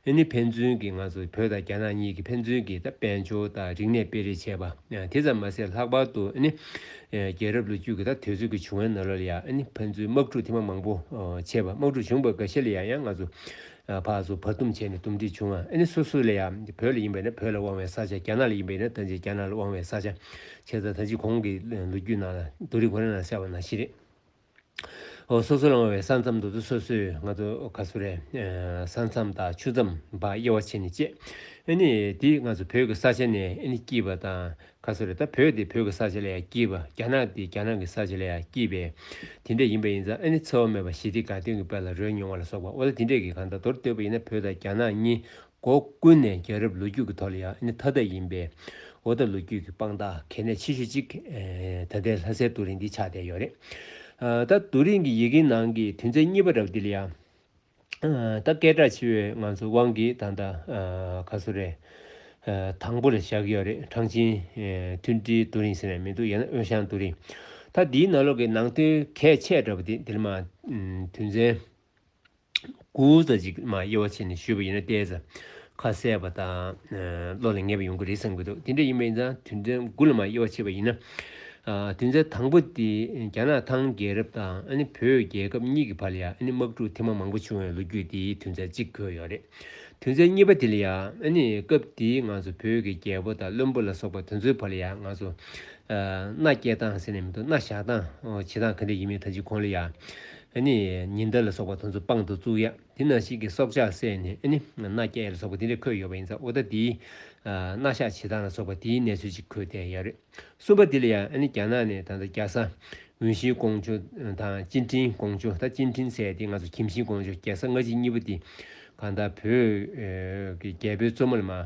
འདི་ནི་ཕན་ཚུན་གྱི་ང་ཚོ་བོད་དང་རྒྱ་ནག་གཉིས་ཀྱི་ཕན་ཚུན་གྱི་དཔལ་འབྱོར་དང་རིག་གནས་སྤེལ་རེས་བྱས་པ་དེ་ཙམ་མ་ཟད་ལྷག་པར་དུ་རྒྱལ་རབས་ལོ་རྒྱུས་ཀྱི་དུས་ཚོད་ཀྱི་བྱུང་བའི་ནང་ལ་ཡང་ཕན་ཚུན་དམག་འཁྲུག་ཐེངས་མ་མང་པོ་བྱས་པ་དམག་འཁྲུག་བྱུང་བའི་འགའ་ཤས་ལ་ཡང་ཡང་ང་ཚོ་ཕག་གསོ་བར་འདུམ་བྱས་ནས་འདུམ་འགྲིག་བྱུང་བ་སོ་སོ་ལ་ཡང་བོད་ལ་ཡིན་པས་ན་བོད་ལ་དབང་བའི་ས་ཆ་རྒྱ་ནག་ལ་ཡིན་པས་ན་ད་ཅི་རྒྱ་ནག་ལ་དབང་བའི་ས་ཆ་བྱས་ད་ད་ཅི་གོང་གི་ལོ་རྒྱུས་ནང་ལ་རྡོ་རིང་ཁོ་ན་ལ་ཟེར་བ་ནང་བཞིན་རེད། སོ་སོ་ལང་བའི་ས་མཚམས་དུ་དུ་སོ་སོས་ང་ཚོ་ག་སུ་རའི་ས་མཚམས་དང་ཆུ་མཚམས་བར་དབྱེ་བ་ཕྱེ་ནས་དཔྱད། ཨེ་ནི་འདིས་ང་ཚོ་བོད་ཀྱི་ས་ཆ་ནས་ཨེ་ནི་སྐྱིད་པ་དང་ག་སུ་ར་ད་བོད་འདི་བོད་ཀྱི་ས་ཆ་ལ་ཡང་སྐྱིད་པ་རྒྱ་ནག་འདི་རྒྱ་ནག་གི་ས་ཆ་ལ་ཡང་སྐྱིད་པས་དེ་འདྲ་ཡིན་པ་ཡིན་ཙང་ཨེ་ནི་འཚེ་བ་མེད་པ་ཞི་བདེ་དགའ་སྟོན་གྱི་དཔལ་ལ་རོལ་མྱོང་བ་ལ་སོགས་པ་འོ་ལ་དེ་འདྲས་ཀྱིས་གང་དག་མདོར་བསྟོད་པ་ཡིན་ན་བོད་དང་རྒྱ་ནག་གཉིས་སྒོ་ཀུན་ནས་རྒྱལ་རབས་ལོ་རྒྱུས་ཀྱི་ཐོག་ལ་ཡང་ཨ་ནི་ཐ་དད་ཡིན་པས། འོ་ད་ལོ་རྒྱུས་ཀྱི་དཔང་རྟགས་གལ་གནད་ཆེ་ཤོས་གཅིག་ད་ལྟའི་ལྷ་སའི་རྡོ་རིང་འདི་ཆགས་བསྡད་ཡོད་རེད། ད་རྡོ་རིང་གི་ཡི་གེའི་ནང་གི་དུས་མཚན་གཉིས་པ་རབས་འདི་ལ་ཡང། ད་སྐད་གྲགས་ཆེ་བའི་ང་ཚོ་དབང་གིས་ད་ལྟ་ཁ་སོ་རས། དང་པོ་ལ་བཞག་གི་ཡོད་རེད་ཁྲང་ཆིན། མཐུན་སྒྲིལ་རྡོ་རིང་ཟེར་ནས་མི་འདུག་ཡང་ན་དབོན་ཞང་རྡོ་རིང། ད་འདིའི་ནང་ལོགས་ཀྱི་ནང་དོན་གལ་ཆེ་དྲགས་པ་འདི་འདིར་མ། དུས་མཚན། དགུ། རྩ་གཅིག་མ་དབྱེ་བ་ཕྱེ་ནས་ཞུས་པ་ཡིན་ན་བལྟས་ཚེ། ཁ་གསལ་བ་དང། བློ་ལ་ངེས་པ་ཡོང་གི་རེད་བསམ་གྱི་འདུག་དེ་འདྲ་ཡིན་པ་ཡིན་ཙང་དུས་མཚན་དགུ་ལ་མ་དབྱེ་བ་ཕྱེ་བ་ཡིན་ན། དུས་མཚན་དང་པོ་དེ་རྒྱ་ནག་ཐང་རྒྱལ་རབས་དང་བོད་རྒྱལ་ཁབ་གཉིས་ཀྱི་བར་ལ་ཡང་དམག་འཁྲུག་ཐེངས་མང་མང་པོ་བྱུང་བའི་ལོ་རྒྱུས་དེའི་དུས་མཚན་གཅིག་འཁོད་ཡོད་རེད། དུས་མཚན་གཉིས་པ་དེ་ལ་ཡང། སྐབས་དེའི་ང་ཚོ་བོད་ཀྱི་རྒྱལ་པོ་དང་བློན་པོ་ལ་སོགས་པ་དེ་ཚོའི་བར་ལ་ཡང་ང་ཚོ། མནའ་སྐྱེལ་སྟངས་ཟེར་ནས་མི་འདུག་མནའ་བཞག་སྟངས། བྱེད་སྟངས་ག་འདྲ་ཡིན་མིན་ད་ཅི་གོ་ལ་ཡག། ནི། ཉི་ཟླ་ལ་སོགས་པ་དང་ཚོ་དཔང་དུ་བཙུགས་ཡ། དེ་རྣམས་ཤིག་གི་སྲོག་ཆགས་བསད་ནས་ནི། སྣ་བརྒྱད་ལ་སོགས་པ་དེ་འདྲས་འཁོད་ཡོད་པ་ཡིན་ཙང་ཨུཏྤ་ཏིའི། སྣ་ཞག་བྱེ་ཐང་ལ་སོགས་པ་དེའི་གནས་ཚུལ་ཅིག་འཁོད་དེ་ཡ། གསུམ་པ་དེ་ལ་ཡ། རྒྱ་ནག་ནས་ད་ལྟ་རྒྱ་བཟའ། ཝུན་ཤིའི་ཀོང་ཇོ། དང་ཅིན་ཀྲིན་ཀོང་ཇོ་ད་ཅིན་ཀྲིན་བསད་དེ་ང་ཚོ་ཁྱིམ་ཤིའི་ཀོང་ཇོ་རྒྱལ་ས་སྔ་ཕྱི་གཉིས་པོ་དེ། གང་ལྟར་བོད། ཀྱི་རྒྱལ་པོའི་གཙོ་མོ་ལ་མ།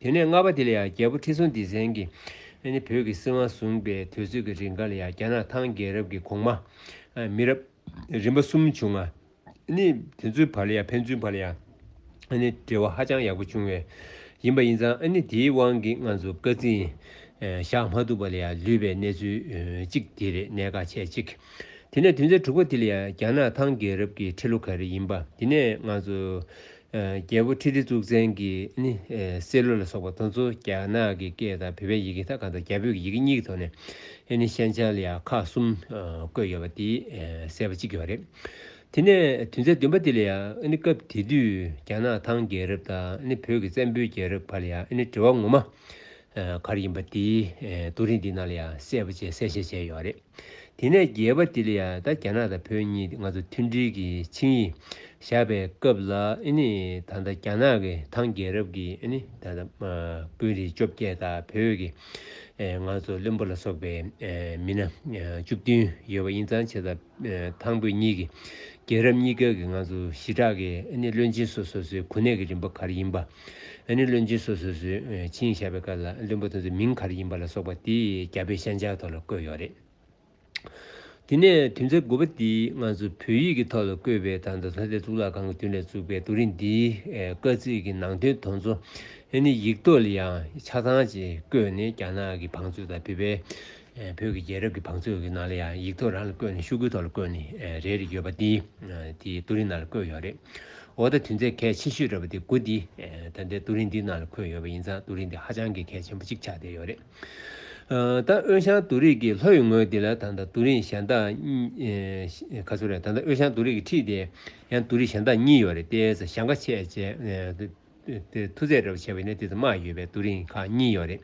དེ་ནས་རྔ་པ་དེ་ལ་ཡང་རྒྱལ་པོ་ཁྲི་སྲོང་ལྡེ་བཙན་གྱིས་བོད་ཀྱི་སྲིད་དབང་བཟུང་པའི་དུས་ཚོད་ཀྱི་རིགས་འགའ་ལ་ཡང་རྒྱ་ནག་ཐང་རྒྱལ་རབས་ཀྱི་གོང་མ། མི་རབས། རིམ་པ་གསུམ་བྱུང། དེ་ཚོའི་བར་ལ་ཡང་ཕན་ཚུན་བར་ལ་ཡང་འབྲེལ་བ་ཧ་ཅང་ཡག་པོ་བྱུང་བས་ཡིན་པ་ཡིན་ཙང་དེའི་དབང་གིས་ང་ཚོ་སྐད་འཛིན་བཞག་མ་ཐུབ་པ་ལ་ཡང་ལུས་པའི་གནས་ཚུལ་གཅིག་དེ་རེད་གནད་འགག་ཆེ་གཅིག་དེ་ནས་དུས་མཚན་དྲུག་པ་དེ་ལ་ཡང་རྒྱ་ནག་ཐང་རྒྱལ་རབས་ཀྱི་ཁྲི་ལོ་ག་རེ་ཡིན་པ་དེ་ནས་ང་ཚོ་རྒྱལ་པོ་ཁྲི་ལྡེ་གཙུག་བཙན་གྱིས་ནི་སེ་ལོ་ལ་སོགས་པ་དང་ཚོ་རྒྱ་ནག་གི་སྐད་དང་བོད་པའི་ཡི་གེ་ཐ་ག་དང་རྒྱ་བོད་ཀྱི་ཡི་གེ་གཉིས་ཀྱི་ཐོག་ནས་ནི་ཤན་ཅཱ་ལི་ཡ་ཁ་གསུམ་བཀོད་ཡོད་པ་དེའི་གསལ་བ་གཅིག་གྱུར་བ་རེད། དེ་ནས་དུས་མཚན་བདུན་པ་དེ་ལ་ཡང་ནི་སྐབས་དེ་དུས་རྒྱ་ནག་ཐང་རྒྱལ་རབས་དང་ནི་བོད་ཀྱི་བཙན་པོའི་རྒྱལ་རབས་བར་ལ་ཡང་ནི་འབྲེལ་བ་ངོ་མ་གར་ཡིན་པ་དེའི་རྡོ་རིང་འདི་ནང་ལ་ཡང་གསལ་བོ་བཅས་གསལ་བཤད་བྱས་ཡོད་རེད། དེ་ནས་རྒྱལ་བ་དེ་ལ་ཡང་ད་རྒྱ་ནག་དང་བོད་གཉིས་ང་ཚོ་མཐུན་སྒྲིལ་གྱི་ཆིངས་ཡིག་བཞག་པའི་སྐབས་ལ་ནི་ད་ལྟ་རྒྱ་ནག་གི་ཐང་རྒྱལ་རབས་ཀྱི་ནི་ད་ལྟ་དཔོན་རིགས་བཅོ་བརྒྱད་དང་བོད་ཀྱི་ང་ཚོ་བློན་པོ་ལ་སོགས་པའི་མི་སྣ་བཅུ་བདུན་ཡོད་པ་ཡིན་ཙང་ཆེ་ས་དང་པོ་གཉིས་ཀྱི་རྒྱལ་རབས་གཉིས་ཀའི་ང་ཚོ་ཞི་དྲག་གི་བློན་ཆེན་སོ་སོ་སོའི་གོ་གནས་ཀྱི་རིམ་པ་ག་རེ་ཡིན་པ། བློན་ཆེན་སོ་སོ་སོའི་ཆིངས་བཞག་པའི་སྐབས་ལ་བློན་པོ་དེ་ཚོའི་མིང་ག་རེ་ཡིན་པ་ལ་སོགས་པ་དེ་རྒྱ་བོད་ཤན་སྦྱར་ཐོག་ལ་བཀོད་ཡོད་རེད། དེ་ནས་དུས་མཚམས་དགུ་པ་འདིའི་ང་ཚོ་བོད་ཡིག་གི་ཐོག་ལ་བཀོད་པའི་ད་ལྟ་ལྷ་སྡེ་གཙུག་ལག་ཁང་གི་མདུན་ལས་བཙུགས་པའི་རྡོ་རིང་འདིའི་བཀའ་གཙིགས་ཀྱི་ནང་དོན་དོན་གཙོ། ཡིག་ཐོག་ལ་ཡང་ཆ་ཚང་ཅིག་བཀོད་ནས་རྒྱ་ནག་གི་བང་མཛོད་དང་བོད་པའི་བོད་ཀྱི་རྒྱལ་རབས་ཀྱི་བང་མཛོད་ཀྱི་ནང་ལ་ཡང་ཡིག་ཐོག་རང་ལ་བཀོད་ནས་ཤུགས་ཀྱིས་ཐོག་ལ་བཀོད་ནས་རེད་རེད་ཡོད་པ་འདི་འདིའི་ཏུ་རིན་ནང་ལ་བཀོད་ཡོད་རེད། འོ་ད་དུས་མཚན་གལ་ཆེ་ཤོས་རེད་པ་འདི་དགུ་འདི་ད་ལྟའི་ཏུ་རིན་འདིའི་ནང་ལ་འཁོད་ཡོད་པ་ཡིན་ཙང་ཏུ་རིན་འདི་ཧ་ཅང་གི་གལ་ཆེན་པོ་ཅིག་ཆགས་བསྡད་ཡོད་རེད། ད་དབོན་ཞང་ཏུ་རིགས་ཀྱི་ལྷོ་ཡི་ངོས་འདི་ལ་ད་ད་ཏུ་རིན་ཞལ་མདངས་གཉིས་ག་ཚོད་རེད་ད་ད་དབོན་ཞང་ཏུ་རིགས་ཀྱི་འཁྲིས་དེ་ཡང་ཏུ་རིན་ཞལ་མདངས་གཉིས་ཡོད་རེད་ཏེ་ས་ཞང་ཁ་ཆེ་ཆེ་མཐུ་རྩལ་འདྲ་བ་བྱས་པའི་ནད་དེ་དང་མ་ཡོད་པའི་དུག་རིང་ཁག་གཉིས་ཡོད་རེད།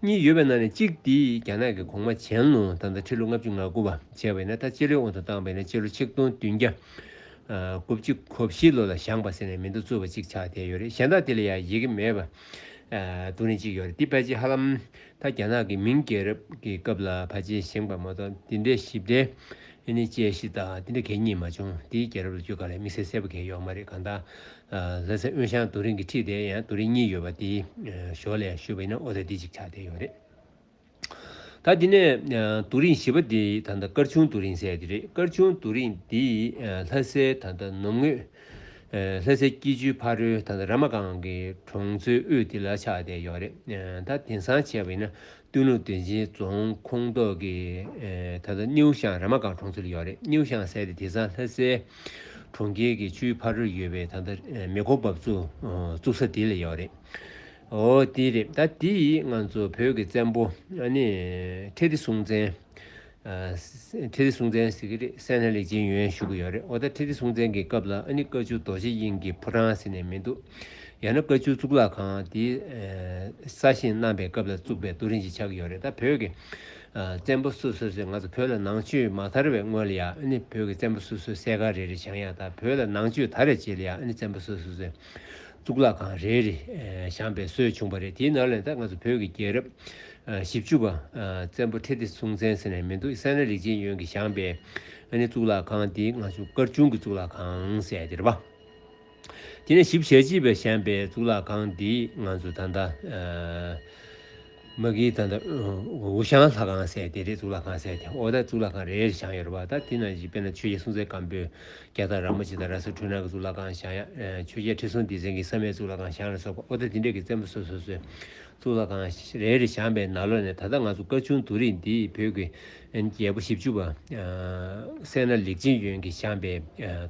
གཉིས་ཡོད་པའི་ནང་ནས་གཅིག་དེ་རྒྱ་ནག་གི་གོང་མ་ཆན་ལུང་ཐང་དང་ཁྲི་ལོ་ལྔ་བཅུ་ང་དགུ་བ་བྱས་པའི་ནད་ད་སྤྱི་ལོའི་དབང་དུ་བཏང་པའི་ནད་སྤྱི་ལོ་ཆིག་སྟོང་བདུན་བརྒྱ་དགུ་བཅུ་གོ་བཞི་ལོ་ལ་བཞག་པ་ཟེར་ནས་མིང་ཐོ་བཙུགས་པ་གཅིག་ཆགས་བསྡད་ཡོད་རེད་གཞན་དག་དེ་ལ་ཡང་ཡི་གེ་མེད་པ་དུག་རིང་གཅིག་ཡོད་རེད་འདི་ཕལ་ཆེར་ཧ་ལམ་ད་རྒྱ་ནག་གི་མིང་རྒྱལ་རབས་ཀྱི་སྐབས་ལ་ཕལ་ཆེར་བཞེངས་པ་མ་གཏོགས་འདི་འདྲའི་ཞིབ་ཕྲའི་ནི་དཔྱད་གཞི་དག་འདི་འདྲ་གད་སྙིགས་མ་བྱུང་འདིའི་རྒྱལ་རབས་ལ་རྒྱུས་ག་ལ་མི་གསལ་གསལ་པོ་གད་ཡོག་མ་རེད་གང་ལྟར་ལྷ་སའི་དབོན་ཞང་རྡོ་རིང་གི་ཁྲི་དེ་ཡང་རྡོ་རིང་གཉིས་ཡོད་པ་དེའི་ཞོར་ལས་ཞུས་པ་ཡིན་ན་ཨོ་ལེ་འདི་ཅིག་ཆགས་བསྡད་ཡོད་རེད། ད་དེ་ནས་རྡོ་རིང་བཞི་པ་དེ་ད་ལྟ་སྐར་ཆུང་རྡོ་རིང་ཟེར་དེ་རེད་སྐར་ཆུང་རྡོ་རིང་འདི་ལྷ་སའི་ད་ལྟ་ནུབ་ངོས་ལྷ་སའི་སྐྱིད་ཆུའི་ཕ་རོལ་ད་ལྟ་ར་མ་སྒང་གི་གྲོང་ཚོའི་དབུས་དེ་ལ་ཆགས་བསྡད་ཡོད་རེད་ད་དེང་སང་བྱས་པ་ཡིན་ན་སྟོད་ལུང་བདེ་ཆེན་རྫོང་ཁོངས་གཏོགས་ཀྱི་ད་ལྟ་སྣེའུ་ཤང་ར་མ་སྒང་གྲོང་ཚོ་ལ་ཡོད་རེད་སྣེའུ་ཤང་ཟེར་ཏེ་དེ་ཚང་ལྷ་སའི་གྲོང་ཁྱེར་གྱི་ཆུའི་ཕར་རོལ་ཡོད་པའི་ད་ལྟ་མེ་འཁོར་འབབ་ཚུགས་བཙུགས་ས་དེ་ལ་ཡོད་རེད་འོ་དེ་རེད་ད་དེ་ཡིས་ང་ཚོ་བོད་ཀྱི་བཙན་པོ་ཨ་ནི་ཁྲེ་ཏི་སྲོང་བཙན། ཁྲི་ལྡེ་སྲོང་བཙན་ཟེར་གྱི་རེད་སེམས་ལྷད་ལས་སྦྱིན་ཡོན་ཞུ་གི་ཡོད་རེད་འོ་ད་ཁྲི་ལྡེ་སྲོང་བཙན་གྱི་སྐབས་ལ་ཨ་ནི་བཀའ་བཅུ་རྡོ་རྗེ་དབྱིངས་ཀྱི་ཕོ་བྲང་ཟེར་ནས་མི་འདུག་ཡང་ན་བཀའ་བཅུ་གཙུག་ལག་ཁང་དེ་ས་ཞིང་བསྣམས་པའི་སྐབས་ལ་བཙུགས་པའི་རྡོ་རིང་ཞིག་ཆགས་ཀྱི་ཡོད་རེད་ད་བོད་ཀྱི་བཙན་པོ་སོ་སོ་སོས་ང་ཚོ་བོད་ལ་ནང་ཆོས་མ་དར་བའི་སྔོན་ལ་ཡང་ཨ་ནི་བོད་ཀྱི་བཙན་པོ་སོ་སོས་གསས་ཁ་རེ་རེ་བྱང་ཡང་ད་བོད་ལ་ནང་ཆོས་དར་བའི་རྗེས་ལ་ཡང་ཨ་ནི་བཙན་པོ་སོ་སོས་གཙུག་ལག་ཁང་རེ་རེ་བཤམས་པའི་སྲོལ་བྱུང་བ་རེད་དེའི་ནང་ལས་ད་སྔ་སུ་བོད་ཀྱི་རྒྱལ་རབས་བཞི་བཅུ་པ་བཙན་པོ་ཁྲི་ལྡེ་སྲོང་བཙན་ཟེར་ནས་མི་འདུག་སེ་ན་རིག་འབྱེད་ཡོན་གྱིས་བཞངས་པའི་ཨ་ནི་གཙུག་ལག་ཁང་དེའི་སྔ་གཞུག་དཀར་ཆུང་གི་གཙུག་ལག་ཁང་ཟེར་ཡ་དེ་རེད་པ། དེ་ནས་ཞིབ་བཤེར་བྱེད་པའི་བཤམས་པའི་གཙུག་ལག་ཁང་དེའི་ང་ཚོ་ད་ལྟ། མ་གིའི་ད་ལྟ་འུ་ཤང་ལྷ་ཁང་ཟེར་དེ་རེད་གཙུག་ལག་ཁང་ཟེར་དེ་འོག་ད་གཙུག་ལག་ཁང་རེ་རེར་བྱང་ཡོད་རེད་བ་ད་དེ་ན་གཞི་དཔེར་ན་ཆོས་རྒྱལ་སྲུང་བཙན་སྒམ་པོའི་རྒྱ་དང་ར་མོ་ཆེ་དང་ར་སུ་ཁྲོད་ནང་གི་གཙུག་ལག་ཁང་བྱང་ཆོས་རྒྱལ་ཁྲི་སྲོང་ལྡེ་བཙན་གྱི་བསམ་ཡས་གཙུག་ལག་ཁང་བྱང་ལ་སོགས་པ་འོག་ད་དེ་འདྲས་ཀྱི་བཙན་པོ་སོ་སོ་སོའི་གཙུག་ལག་ཁང་རེ་རེ་བྱང་པའི་ན་ལོ་ནས་ད་ལྟ་ང་ཚོ་སྐར་ཆུང་དུ་རིགས་འདིས་བོད་ཀྱི་རྒྱལ་པོ་བཞི་བཅུ་བ། སེར་སྣ་ལེགས་བྱིན་གཡོན་གྱིས་བཤམས་པའི་